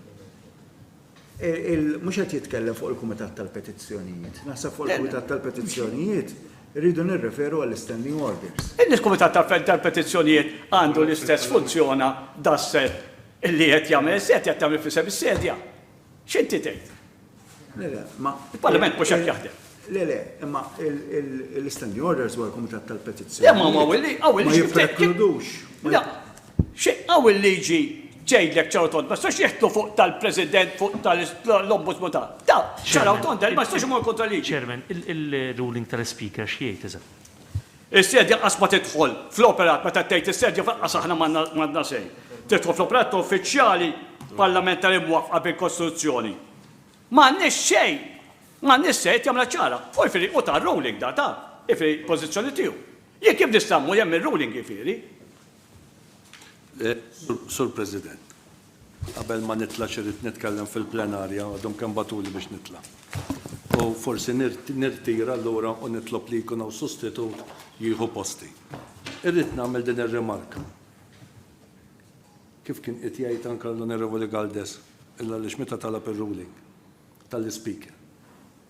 Mhux qed jitkellem fuq il-Kumitat tal-Petizzjonijiet. Naħseb fuq il-Kumitat tal-Petizzjonijiet irridu nirreferu għall-Standing Orders. Il-Kumitat tal-Petizzjonijiet għandu l-istess funzjona daqshekk li qed jagħmel is-sedja, qed tagħmel f'isem is-sedja. X'inti tgħid? Il-Parlament mhux hekk jaħdem. Le, le, imma l-istanding orders huwa l-Kumitat tal-Petizzjoni. Le, ma huwa willi, għaw il-liġi. Ma jipprekludux. Le, xi għaw il-liġi tgħidlek ċaraw tond, ma jistax jeħtlu fuq tal-President, fuq tal-Ombudsman ta' ta' ċaraw tond, ma jistax imur kontra liġi. Chairman, il-ruling tal-Speaker x'jgħid iżda? Is-sedja qas ma tidħol fl-operat meta tgħid is-sedja f'aqqas aħna m'għandna sejn. Tidħol fl-operat ta' uffiċjali parlamentari mwaffqa bil-Kostituzzjoni. M'għandniex xejn! M'għandniex xejn qed jagħmilha ċara. Fuq il-firi hu ta ruling da ta, jifieri pożizzjoni tiegħu. Jien kif nista' mmur hemm ir-ruling jifieri? Sur President, qabel ma nitla' x'irid nitkellem fil-plenarja għadhom kemm bagħtuli biex nitla'. U forsi nirtira allura u nitlob li jkun hawn sostitut jieħu posti. Irrid nagħmel din ir-rimarka. Kif kien qed jgħid anke l-Onorevoli Galdes għaliex meta talab ir-ruling tal-Ispeaker,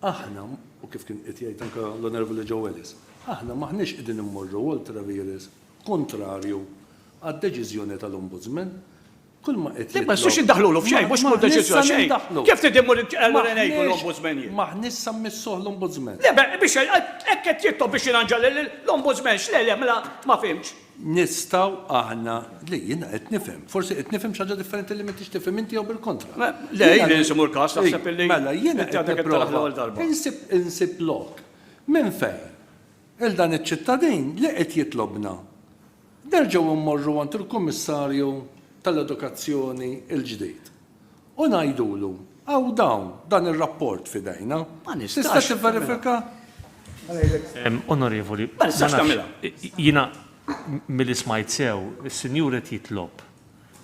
aħna, u kif kien qed jgħid anke l-Onorevoli Joe Ellis, aħna m'aħniex qegħdin immorru ultra vires kuntrarju għad-deċiżjoni tal-Ombudsman. Kull ma qed jitlob. Le, x'se ndaħħlulu f'xejn, mhux kull deċiżjoni xejn. Kif trid immur allura ngħidu l-Ombudsman jien? M'aħniex se mmissuh l-Ombudsman. Le, biex hekk qed jitlob biex jirranġa l-Ombudsman, x'le le, mela ma fhimtx. Nistgħu aħna, le jiena qed nifhem, forsi qed nifhem xi ħaġa differenti li m'intix tifhem inti jew bil-kontra. Le, jien irid imur każ taħseb illi inti għadek qed taraħ l-ewwel darba. Mela jiena qed nipprova insib lok minn fejn il dan iċ-ċittadin li qed jitlobna nerġgħu mmorru għand il-Kummissarju tal-Edukazzjoni l-ġdid U ngħidulu, 'Hawn dawn, dan ir-rapport f'idejna. Tista' tivverifika? Onorevoli, ma nafx, jiena milli smajt sew, is-Sinjur qed jitlob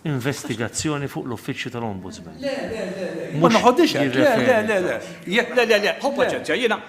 investigazzjoni fuq l-Uffiċċju tal-Ombudsman. Le, le, le, le, ma noħodhiex hekk, le, le, le, le, jekk, le, le, le, ħu paċenzja, jiena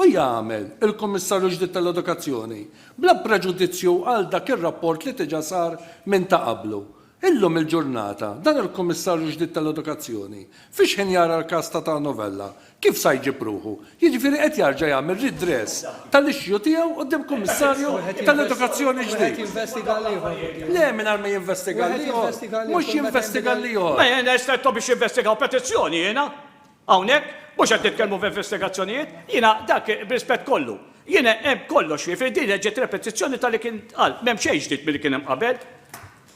u jagħmel il-Kummissarju ġdid tal-Edukazzjoni, bla preġudizzju għal dak ir-rapport li diġà sar minn ta' qablu. Illum il-ġurnata, dan il-Kummissarju ġdid tal-Edukazzjoni, fix-ħin jara l-każ ta' Ta' Novella, kif sa jġib ruħu? Jiġifieri qed jarġa' jagħmel redress tal-issue tiegħu quddiem Kummissarju tal-Edukazzjoni ġdid? Le, mingħajr ma jinvestiga l-ieħor. Mhux jinvestiga l-ieħor. Ma jiena stretto biex jinvestigaw petizzjoni jiena. Hawnhekk mhux qed nitkellmu f'investigazzjonijiet, jiena dak, b'rispett kollu, jiena hemm kollox fih, jiġifieri din reġgħet repetizzjoni ta' li kien ntqal, m'hemm xejn ġdid milli kien hemm qabel.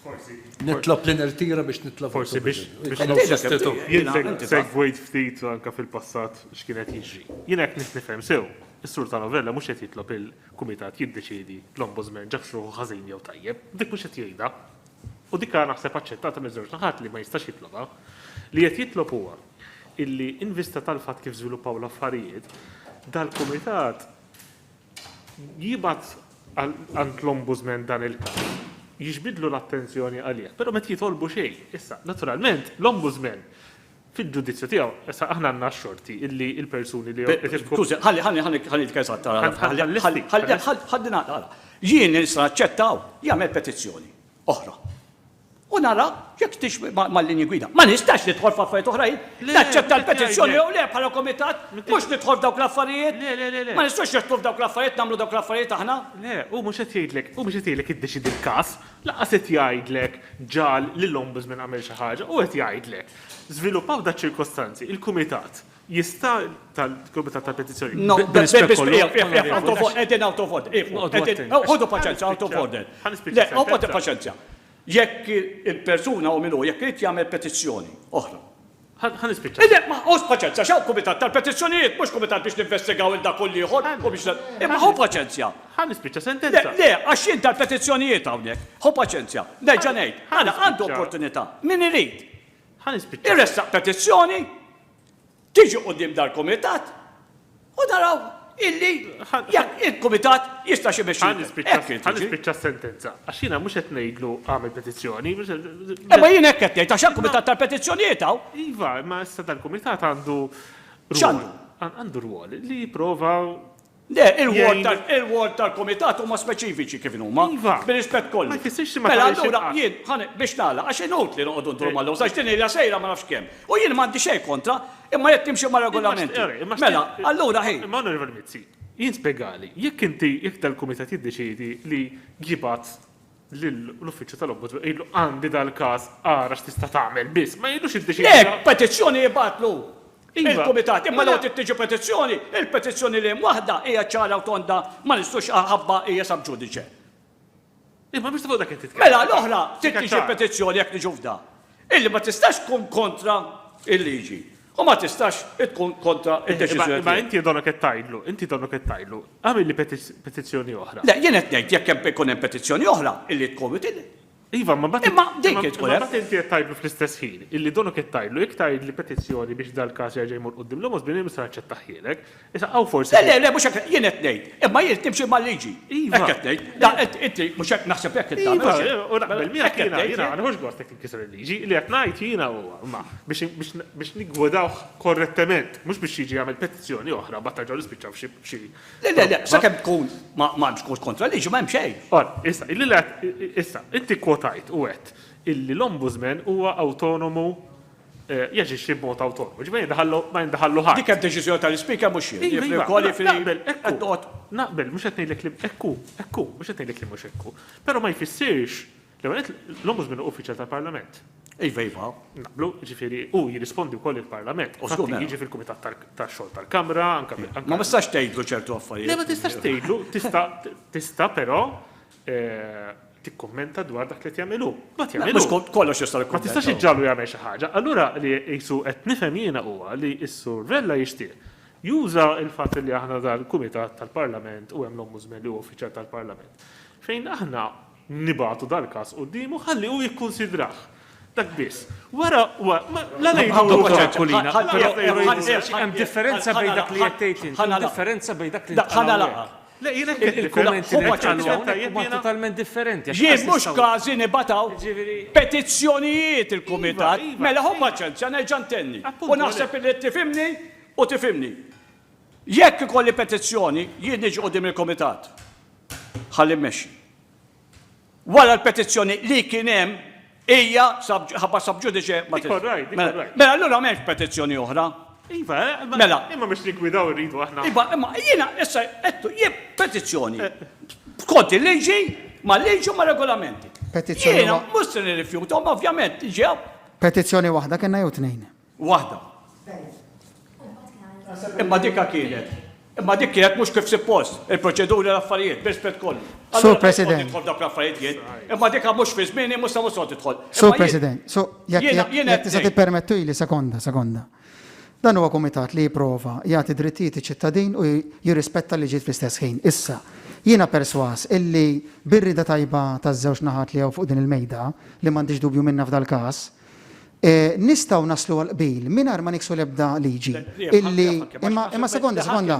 Forsi. Nitlob li nirtira biex nitlob. Forsi biex nagħmlu sostitut. Jien segwejt ftit anke fil-passat x'kien qed jiġri. Jiena jekk nifhem sew, is-Sur Tano Vella mhux qed jitlob il-Kumitat jiddeċiedi l-Ombudsman ġabx ruħu ħażin jew tajjeb, dik mhux qed jgħidha. u dik għad naħseb aċċettata miż-żewġ naħat li ma jistax jitlobha, li qed jitlob huwa illi in vista tal-fatt kif żviluppaw l-affarijiet, dal-Kumitat jibgħat għand l-Ombudsman dan il-każ, jiġbidlu l-attenzjoni għalih, però ma qed jitolbu xejn. Issa, naturalment, l-Ombudsman Fil-ġudizzju tiegħu, issa aħna għandna x-xorti illi l-persuni li qed jifqu. Skużi, ħalli, ħalli, ħalli, ħalli nitkellem sa tara. Ħalli, ħalli, ħalli, ħalli nagħlaq, ara. Jien nista' naċċetta hawn li jagħmel petizzjoni oħra. U nara jekk tix mal-linji gwida. Ma nistax nidħol f'affarijiet oħrajn. Naċċetta l-petizzjoni jew le bħala komitat, mhux nidħol f'dawk l-affarijiet. Le, le, le, le. Ma nistax nidħol f'dawk l-affarijiet nagħmlu dawk l-affarijiet aħna. Le, u mhux qed jgħidlek, u mhux qed jgħidlek iddeċidi l-każ, laqas qed jgħidlek ġal lill-ombudsman għamel xi ħaġa, u qed jgħidlek. Żviluppaw daċ-ċirkostanzi, il-Kumitat jista', tal-Kumitat tal-Petizzjonijiet, No, there is mis- Onorevoli, Iqf, iqf, iqf, out of order, qegħdin out of order, iqfu, Noqogħdu qegħdin, attenti. ħodu paċenzja, out of order. Ħa nispiċċa Le, ħodu s-sentenza. paċenzja. Jekk il-persuna u min hu, jekk irid jagħmel petizzjoni oħra. Ħa ħa nispiċċa. Le, ma ħodu paċenzja, x'hawn Kumitat tal-Petizzjonijiet, mhux Kumitat biex ninvestigaw il dak u l-ieħor u biex Imma ħu paċenzja. Ħa nispiċċa sentenza. Le, le, għax jien tal-petizzjonijiet hawnhekk. Ħu paċenzja. Nerġa' ngħid, mela għandu opportunità, min irid. Ħa nispiċċa. Iressaq petizzjoni, tiġi quddiem dal-kumitat u naraw illi jekk il-kumitat jistax imexxi. Ħa nispiċċa, ħa nispiċċa s-sentenza. Għax jiena mhux qed ngħidlu għamel petizzjoni. Imma jien hekk qed ngħid għax għall-kumitat tal-petizzjonijiet hawn. Iva, imma issa dal-kumitat għandu. X'għandu? Għandu rwol li jipprova Le, il-ward tal-kumitat huma speċifiċi kif inhuma. Iva. Bir-rispett kollu. Ma jfissirx li ma tagħmel xejn. Mela allura jien, ħa biex nagħlaq, għax inutli noqogħdu nduru mal-lewż għax din ilha sejra ma nafx kemm. U jien m'għandi xejn kontra, imma jekk timxi mar-regolamenti. Mela, allura hi. Imma Onorevoli Mizzi, jien spjegali, jekk inti, jekk dal-kumitat jiddeċiedi li jibgħat lil l-uffiċċju tal-Ombudsman u jgħidlu għandi dal-każ ara x'tista' tagħmel biss, ma jgħidlux iddeċiedi Le, inti. petizzjoni jibgħatlu Iva, il-Kumitat, imma mela. l-għoti ttiġi petizzjoni, il-petizzjoni li hemm waħda hija ċara u tonda ma nistgħux ħabba hija sub judice. Imma mhux ta' fuq dak qed titkellem. Mela l-oħra trid tiġi petizzjoni jekk niġu f'da. Illi ma tistax tkun kontra l-liġi u ma tistax tkun kontra d-deċiżjoni tiegħi. Imma inti donnok qed tgħidlu, inti donnok qed tgħidlu, agħmilli petizzjoni oħra. Le, jien qed ngħid jekk hemm ikun hemm petizzjoni oħra illi tkun util. Iva, imma mbagħad Imma din kien tkun hemm. Imma mbagħad inti qed tgħidlu fl-istess ħin illi donnok qed tgħidlu jekk tgħidli petizzjoni biex dal-każ jerġa' jmur quddiem l-Ombudsman jien mista' naċċettah ħielek. Issa hawn forsi. Le, le, le, mhux hekk, jien qed ngħid, imma jien irid nimxi mal-liġi. Iva. Hekk qed ngħid. Da, int, inti, mhux hekk, naħseb hekk int tagħmel. Iva, u naqbel miegħek jiena, jiena ma nieħux gost jekk tinkisser il-liġi. Li qed ngħid jiena huwa, imma, biex, biex, biex niggwidawh korrettement, mhux biex jiġi jagħmel petizzjoni oħra mbagħad terġgħu nispiċċaw f'xi, f'xi. Le, le, le, sakemm tkun ma, ma hemmx kont kontra l-liġi ma hemm xejn. Ora, issa, illi le, issa, inti kkwotajt u għedt illi l-Ombudsman huwa awtonomu. jaġixxi b'mod awtonomu. Ġifieri ma jindaħallu ħadd. Dik hija d-deċiżjoni tal-Ispeaker mhux jien. Jiġifieri wkoll jiġifieri naqbel hekk qed noqgħod. Naqbel mhux qed ngħidlek li hekk hu, hekk hu, mhux qed ngħidlek li mhux hekk hu. Però ma jfissirx l-ewwel nett l-Ombudsman hu uffiċjal tal-Parlament. Iva, iva. Naqblu, ġifieri hu jirrispondi wkoll il-Parlament. U żgur jiġi fil-Kumitat tax-Xogħol tal-Kamra, anke. Ma tistax tgħidlu ċertu affarijiet. Le ma tistax tgħidlu, tista' tista' però tikkummenta dwar dak li qed jagħmel hu. Ma jagħmel hu. Mhux kollox jista' jkun. Ma tistax iġġagħlu jagħmel xi ħaġa. Allura li qisu qed nifhem jiena huwa li s-Sur Vella jixtieq juża l-fatt li aħna dal-Kumitat tal-Parlament u hemm l-Ombudsman li huwa uffiċjal tal-Parlament fejn aħna nibagħtu dal-każ quddiemu ħalli hu jikkunsidrah. Dak biss. Wara, la ngħidu Aquilina. Hemm differenza bejn dak li qed tgħid int. Hemm differenza bejn dak li qed tgħid int. Ħa nagħlaq. Le jien hekk qed nifhem. Il-kummenti li jitqalu hawnhekk huma totalment differenti għax. Jien mhux każi nibgħat hawn petizzjonijiet il-kumitat. Mela ħu paċenzja nerġa' ntenni u naħseb illi tifhimni u tifhimni. Jekk ikolli petizzjoni jien niġi quddiem il-kumitat. Ħalli mmexxi. Wara l-petizzjoni li kien hemm hija ħabba sub judice ma Dik orrajt, dik orrajt. Mela allura m'hemmx petizzjoni oħra. Iva, mela. Imma biex niggwidaw irridu aħna. Iva, imma jiena issa qedtu jien petizzjoni skont il-liġi mal-liġi u mar-regolamenti. Petizzjoni. Jiena mhux se nirrifjuthom ovvjament ġew. Petizzjoni waħda kellna jew tnejn? Waħda. Imma dikha kienet. Imma dik kienet mhux kif suppost, il-proċeduri l-affarijiet, b'rispett kollu. Sur President. Tidħol dak l-affarijiet jien, imma dikha mhux fi żmieni mhux sa mhux sod tidħol. Sur President, so jekk tista' tippermettu li sekonda, sekonda. Dan huwa kumitat li jipprova jagħti drittijiet iċ-ċittadin u jirrispetta liġijiet fl-istess ħin. Issa, jiena perswas illi birrida tajba taż-żewġ naħat li hawn fuq din il-mejda li m'għandix dubju minnha f'dal-każ, nistgħu naslu għal qbil mingħajr ma niksu l-ebda liġi illi imma imma sekonda sekonda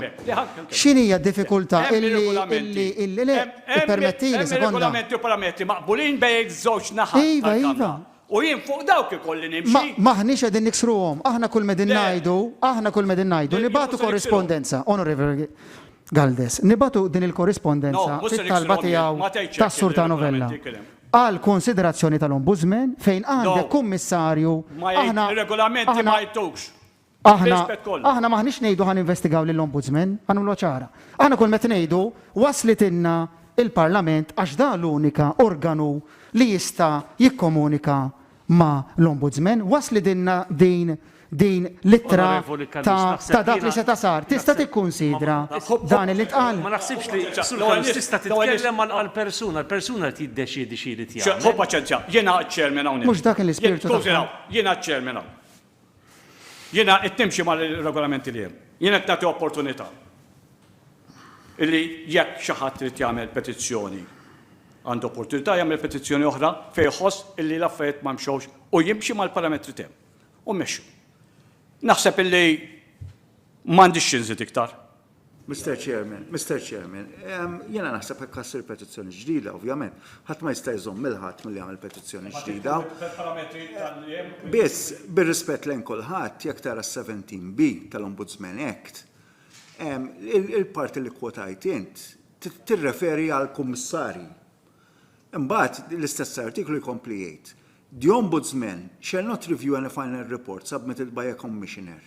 x'inhija d-diffikultà illi illi illi le ippermettili sekonda. Regolamenti u parametri maqbulin bejn iż-żewġ naħat. Iva iva. U jien fuq dawk ikolli nimxi. M'aħniex qegħdin niksruhom, aħna kull m'qegħdin ngħidu, aħna kull m'qegħdin ngħidu nibagħtu korrispondenza, Onorevoli Galdes, nibagħtu din il-korrispondenza fit-talba tiegħu tas-Sur Tanovella. għall-konsiderazzjoni tal-Ombudsman, fejn għandek Kummissarju, aħna, aħna, aħna, aħna m'aħniex ngħidu ħa ninvestigaw lill-Ombudsman, ħa nagħmluha ċara. Aħna kull ma qed ngħidu waslitilna l-Parlament għax dan l-unika organu li jista' jikkomunika ma' l-Ombudsman, waslidilna din din l-ittra ta' ta' dak li seta' sar. Tista' tikkunsidra dan li ntqal? Ma naħsibx li, Sur Kalus, tista' titkellem għal għal persuna. Il-persuna qed jiddeċiedi xi jrid jagħmel. Ħu paċenzja, jiena għad-Chairman hawnhekk. Mhux dak kien l-ispirtu tagħha. Jiena għad-Chairman hawn. Jiena qed nimxi mal-regolamenti li hemm. Jiena qed nagħti opportunità li jekk xi ħadd irid jagħmel petizzjoni għandu opportunità jagħmel petizzjoni oħra fejn iħoss illi l-affarijiet ma mxewx u jimxi mal-parametri tiegħu. U mmexxu. Naħseb illi m'għandix xi nżid iktar. Mister Chairman, Mister Chairman, ehm, jiena naħseb hekk ħassir petizzjoni ġdida, ovvjament. Ħadd ma jista' jżomm lil ħadd milli jagħmel petizzjoni ġdida. Biss, bir-rispett lejn kulħadd, jekk tara s-17B tal-Ombudsman Act, ehm, il-parti li kwotajt int tirreferi għal kummissarji. Imbagħad l-istess artiklu jkompli jgħid The Ombudsman shall not review any final report submitted by a Commissioner,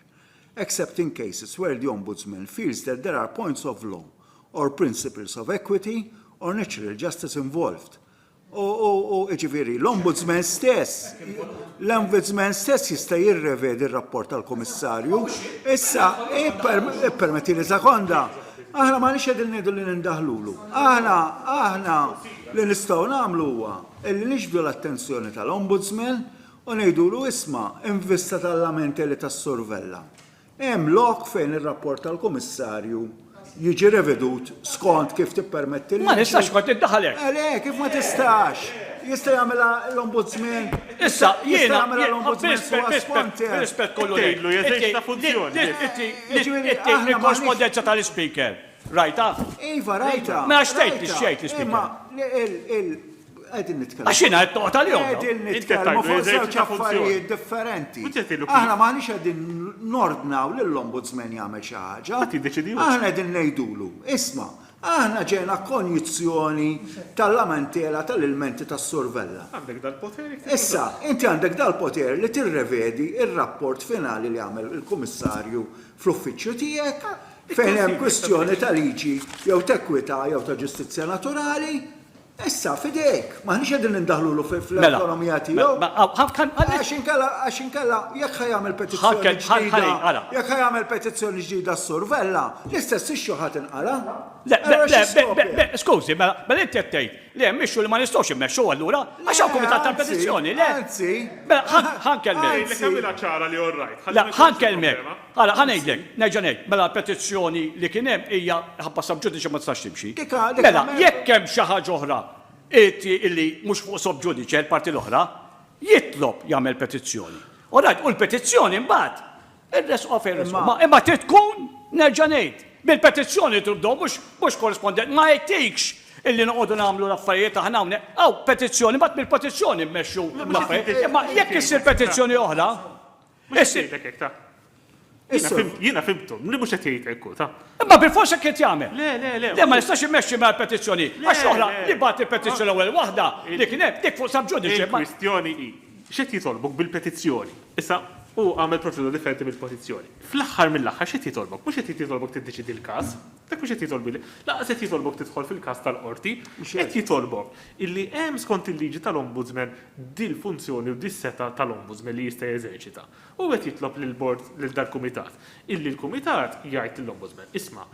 except in cases where the Ombudsman feels that there are points of law or principles of equity or natural justice involved, u, u, u, jiġifieri, l-Ombudsman stess, l-Ombudsman stess jista' jirrevedi r-rapport tal-Kummissarju. Issa, ippermetti li sekonda, aħna m'aħniex qegħdin ngħidu li nindaħlulu. Aħna, aħna li nistgħu nagħmlu huwa li niġbdu l-attenzjoni tal-Ombudsman u ngħidulu isma', in vista tal-lamenti li tas-Sur Vella, hemm lok fejn ir-rapport tal-Kummissarju jiġi revedut skont kif tippermetti l-liġi. Ma nistax kont niddaħal hekk. Le, kif ma tistax? Jista' jagħmilha l-Ombudsman? Issa, jiena jagħmilha l-Ombudsman suwa skont hekk. B'rispett kollu ngħidlu jeżerċita funzjoni. Jiġifieri aħna. Il-korrispondenza tal-Ispeaker. Rajta? Iva, rajta. Mela xtejt li xejt li xtejt. Għedin nitkellmu. Għax jina għed li jom. Għedin nitkellmu fuq żewġ affarijiet differenti. Aħna maħniex għedin nordnaw l-ombudsman jagħmel xi ħaġa. Aħna għedin ngħidulu, isma, aħna ġejna konjizzjoni tal-lamentela tal-ilmenti tas-survella. Għandek dal-poteri. Issa, inti għandek dal-poter li tirrevedi il rapport finali li għamel il-kummissarju fl-uffiċċju tiegħek Fejn hemm kwistjoni ta' liġi jew ta' ekwità jew ta' ġustizzja naturali, issa f'idejk, m'aħniex qegħdin nindaħlulu fl-awtonomija tiegħu. Għax inkella, għax inkella, jekk ħa jagħmel petizzjoni ġdida, jekk ħa jagħmel petizzjoni ġdida s-Sur Vella, l-istess issue ħa tinqala'. Skużi, mela, mela inti qed tgħid li hemm issue li ma nistgħux immexxu allura għax hawn kumitat tal-petizzjoni, le? Anzi, anzi. Ħa nkellmek. Ħa nkellmek. Ara, ħa ngħidlek, nerġa' ngħid, mela l-petizzjoni li kien hemm hija ħabba sub judice ma tistax timxi. Mela, jekk hemm xi ħaġa oħra li mhux fuq sub judice l-parti l-oħra, jitlob jagħmel petizzjoni. All right, u l-petizzjoni mbagħad irressquha fejn ressquha. Imma trid tkun, nerġa' ngħid, bil-petizzjoni trid tibdew mhux korrispondenti. Ma jgħidtikx illi noqogħdu nagħmlu l-affarijiet aħna hawnhekk. Hawn petizzjoni, mbagħad mill-petizzjoni mmexxu l-affarijiet. Imma jekk issir petizzjoni oħra, Mhux qed jgħidlek hekk, ta? Jiena fimtu, li mhux qed jgħid hekk hu, ta? Imma bilfors hekk qed jagħmel. Le, le, le. Le ma jistax immexxi mingħajr petizzjoni. Għax l-oħra li bagħat il-petizzjoni l-ewwel waħda li kien hemm dik fuq subjudice. Il-kwistjoni hi x'qed jitolbok bil-petizzjoni. Issa hu għamel proċedura differenti mill-petizzjoni. Fl-aħħar mill-aħħar x'qed jitolbok? Mhux qed jitolbok tiddeċiedi l-każ. Dak mhux qed jitolbu li, lanqas qed jitolbok tidħol fil-każ tal-qorti, qed jitolbok illi hemm skont il-liġi tal-Ombudsman dil-funzjoni u dis-setgħa tal-Ombudsman li jista' jeżerċita. U qed jitlob lill-Bord, lil dal-Kumitat, illi l-Kumitat jgħid lill-Ombudsman, isma',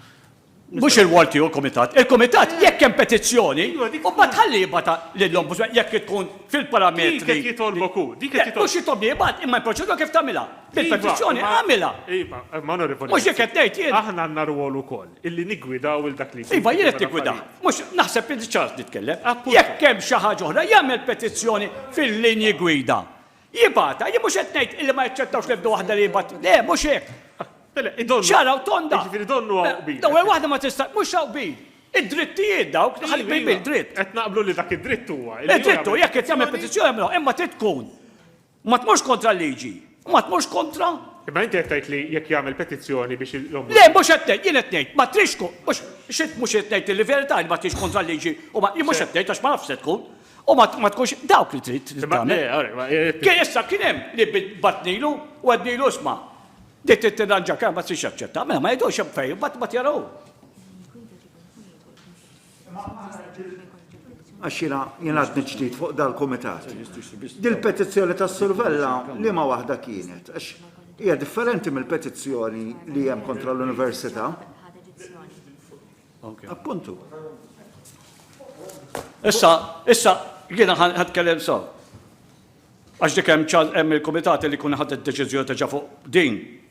Mhux ir-rwol tiegħu l-Kumitat. Il-Kumitat jekk hemm petizzjoni, u mbagħad ħalli jibgħatha lill-Ombudsman jekk tkun fil-parametri li Dik qed jitolbok hu, dik qed jitolbok. Mhux jitolbni jibgħat, imma l-proċedura kif tagħmilha? Bil-petizzjoni għamilha. Iva, ma onorevoli. Mhux hekk qed ngħid jien. Aħna għandna rwol ukoll illi niggwidaw il dak li jkun. Iva, jien qed niggwidah. Mhux naħseb li diġà nitkellem. Jekk hemm xi ħaġa oħra jagħmel petizzjoni fil-linji gwida. Jibgħatha, jien mhux qed ngħid illi ma jaċċettawx l-ebda waħda li jibgħat. Le, mhux hekk. Mela, idonnu. Ċaraw tonda. Jiġifieri donnu hawn qbil. L-ewwel waħda ma tista' mhux hawn qbil. Id-drittijiet dawk li ħalli bil dritt. Qed naqblu li dak id-dritt huwa. Id-dritt huwa jekk qed jagħmel petizzjoni imma trid tkun Ma tmorx kontra l-liġi, u ma tmorx kontra. Imma inti qed tgħid li jekk jagħmel petizzjoni biex l-Ombudsman. Le, mhux qed ngħid, jien qed ngħid, ma tridx tkun, mhux, x'int mhux irid tgħid li verità li ma tridx kontra l-liġi, u ma, jien mhux qed ngħid għax ma nafx se tkun, u ma, ma tkunx dawk li trid li tagħmel. Kien issa kien hemm li batnilu u għednilu isma' din trid tirranġa kemm ma tridx taċċetta, mela ma jgħidux hemm fejn, imbagħad imbagħad jaraw. Għax jiena jiena għadni ġdid fuq dal-kumitat. Dil-petizzjoni tas-survella li ma waħda kienet, għax hija differenti mill-petizzjoni li hemm kontra l-Università. Appuntu. Issa, issa, jiena ħadkellem saw. Għax dik hemm il-kumitati li kun ħadet deċiżjoni ta' fuq din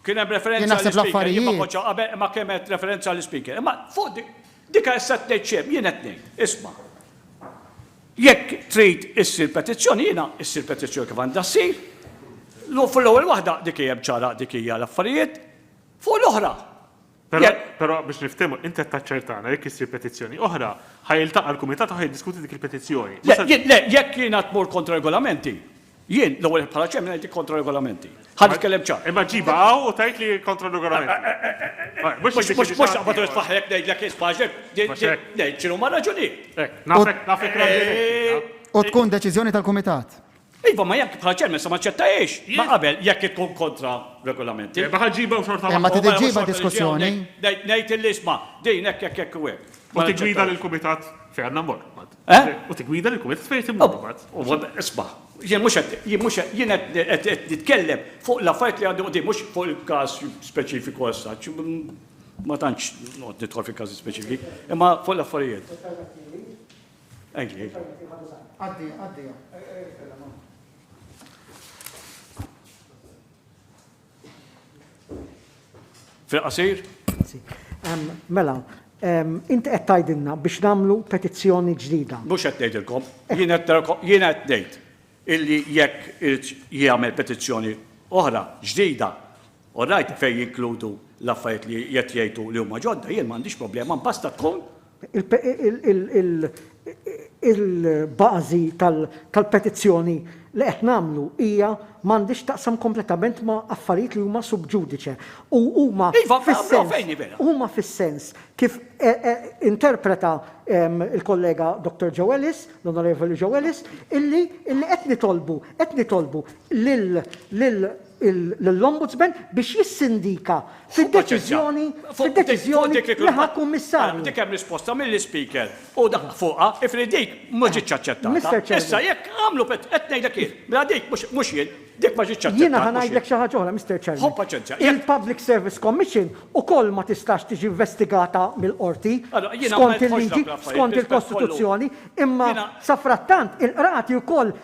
Kien hemm referenza għall-Ispeaker, jien ma kontx hawn qabel, imma kemm għedt referenza għall-Ispeaker. Imma fuq dik, dika issa qed tgħid xejn, jien qed ngħid, isma'. Jekk trid issir petizzjoni, jiena ssir petizzjoni kif għandha ssir. Fuq l-ewwel waħda dik hija ċara dik hija l-affarijiet. Fuq l-oħra, Però, però biex niftehmu, inti qed taċċertana jekk issir petizzjoni oħra, ħa jiltaqa' l-kumitat u ħa jiddiskuti dik il-petizzjoni. Le, le, jekk jiena tmur kontra regolamenti, jien l-ewwel bħala ċemmen ngħidlek kontra regolamenti. Ħa nitkellem ċar. Imma ġiba hawn u tgħid li kontra regolamenti. Mhux mhux mhux taqbad irid faħrek ngħidlek ispaġek, ngħid x'inhu ma raġunijiet. Nafek, nafek. U tkun deċiżjoni tal-kumitat. Iva, ma jekk bħala chairman sa ma ċċettahiex. Ma qabel jekk tkun kontra regolamenti. Erba' ħa ġġibha u xorta waħda. Ma trid iġġibha diskussjoni. Ngħid illi isma' din hekk hekk hekk u hekk. U tiggwida lill-kumitat fejn għandna mmorru mbagħad. Eh? U tiggwida lill-kumitat fejn qed immorru mbagħad. Isma', jien mhux qed jien mhux qed jien qed qed nitkellem fuq l-affarijiet li għandi quddiem mhux fuq il-każ speċifiku as such. Ma tantx noqgħod nidħol fil-każi speċifiċi, imma fuq l-affarijiet. Fil-qasir? Mela, inti qed tgħidilna biex nagħmlu petizzjoni ġdida. Mhux qed ngħidilkom, jien qed ngħid illi jekk irid jagħmel petizzjoni oħra ġdida, u rajt fejn jinkludu l-affarijiet li qed jgħidu li huma ġodda, jien m'għandix problema, basta tkun il-bażi tal-petizzjoni li qed nagħmlu hija m'għandhiex taqsam kompletament ma' affarijiet li huma sub judice u huma fis-sens huma fis-sens kif interpreta l-kollega Dottor Joe Ellis, l-Onorevoli Joe Ellis, illi qed nitolbu qed nitolbu lil lill-Ombudsman biex jissindika fid-deċiżjoni li ħa Kummissarju. Dik hemm risposta mill-Ispeaker u daħaq fuqha, jifieri dik ma ġietx aċċettata. Issa jekk għamlu qed ngħidlek jien, mela dik mhux jien, dik ma ġietx aċċettata. Jiena ħa ngħidlek xi ħaġa oħra, Mister Chairman. Ħobb paċenzja. Il-Public Service Commission ukoll ma tistax tiġi investigata mill-Qorti skont il-liġi, skont il-Kostituzzjoni, imma safrattant il-qrati wkoll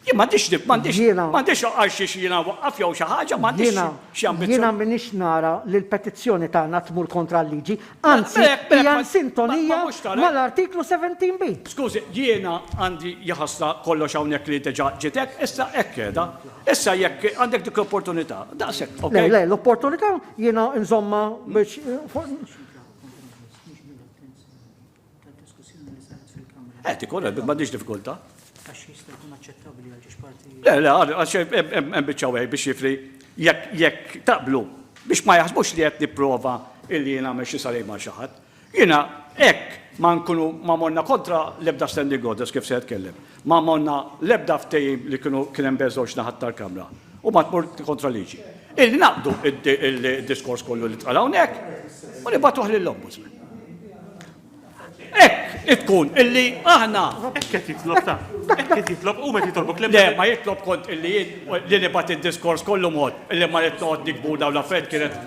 Jien m'għandix dib, m'għandix Jiena- m'għandix għal xiex jiena waqqaf jew xi ħaġa, m'għandix Jiena xi jiena ambizzjoni. m'iniex nara li l-petizzjoni tagħna tmur kontra l-liġi, anzi Mela, hekk- mela, hija ma- ma- insintonija ma mhux tara- mal-Artiklu 17 B. Skużi, jiena għandi jaħasla kollox hawnhekk li diġà ġiet hekk, issa hekk qiegħda. Issa jekk għandek dik l-opportunità, daqshekk, Le, okej? le, l-opportunità jiena nżommha biex fuq Eh, ti korra, ma diġ diffikulta. Għax jista' jkun aċċettabli għal ġiex parti. Le, le, għax hemm biċċa wieħed biex jifri jekk taqblu biex ma jaħsbux li qed nipprova illi jien għamel xi sarej ma' xi ħadd. Jiena hekk ma nkunu ma morna kontra l-ebda standing orders kif se jitkellem. Ma għamonna l-ebda ftehim li kienu kien hemm bejn żewġ naħat tal-Kamra u ma tmur kontra liġi. Illi naqbdu id-diskors kollu li tqal hawnhekk u nibgħatuh lill-Ombudsman. Hekk tkun illi aħna. Hekk qed jitlob ta. Hekk qed jitlob u qed jitolbok li. Le, ma jitlob kont illi li nibgħat id-diskors kollu mod illi ma rid noqgħod nikbu dawn l-affarijiet kienet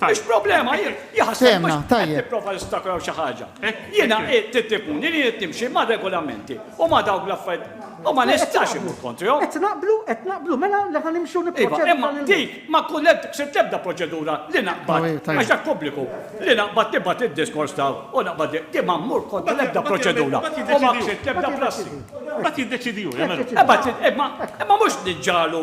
Mhux problema, jaħseb mhux qed tipprova jistakraw xi ħaġa. Jiena tittipuni li jrid nimxi ma' regolamenti u ma' dawk l-affarijiet. U ma nistax imur kontrihom. Qed naqblu, qed naqblu mela li ħan nimxu nipproċedu. Imma dik ma kullet se tebda proċedura li naqbad għax dak pubbliku li naqbad tibgħat id-diskors taw u naqbad di ma mmur kontra l-ebda proċedura. U ma ksib tebda prassi. Bat jiddeċidi hu, Imma mhux niġġalu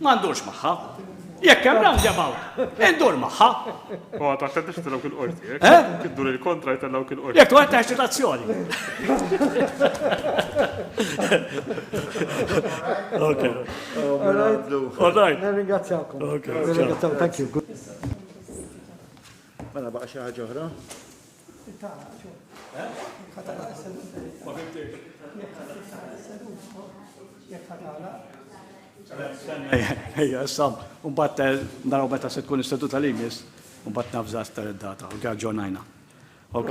Ma ndurx magħha. Jekk hemm roundabout, indur magħha. U għad għatta tixti dawk il-qorti, jekk? Eh? Tiddur il-kontra jtella dawk il-qorti. Jekk għatta eċitazzjoni. Ok. All right. Nirringrazzjakom. Ok. Nirringrazzjakom, thank you. Mela baqa xi ħaġa oħra? Ejja, issa, un bat eh, naraw meta se tkun is-seduta li jmiss, un bat nafża aktar id-data, ok, ġonajna. Ok?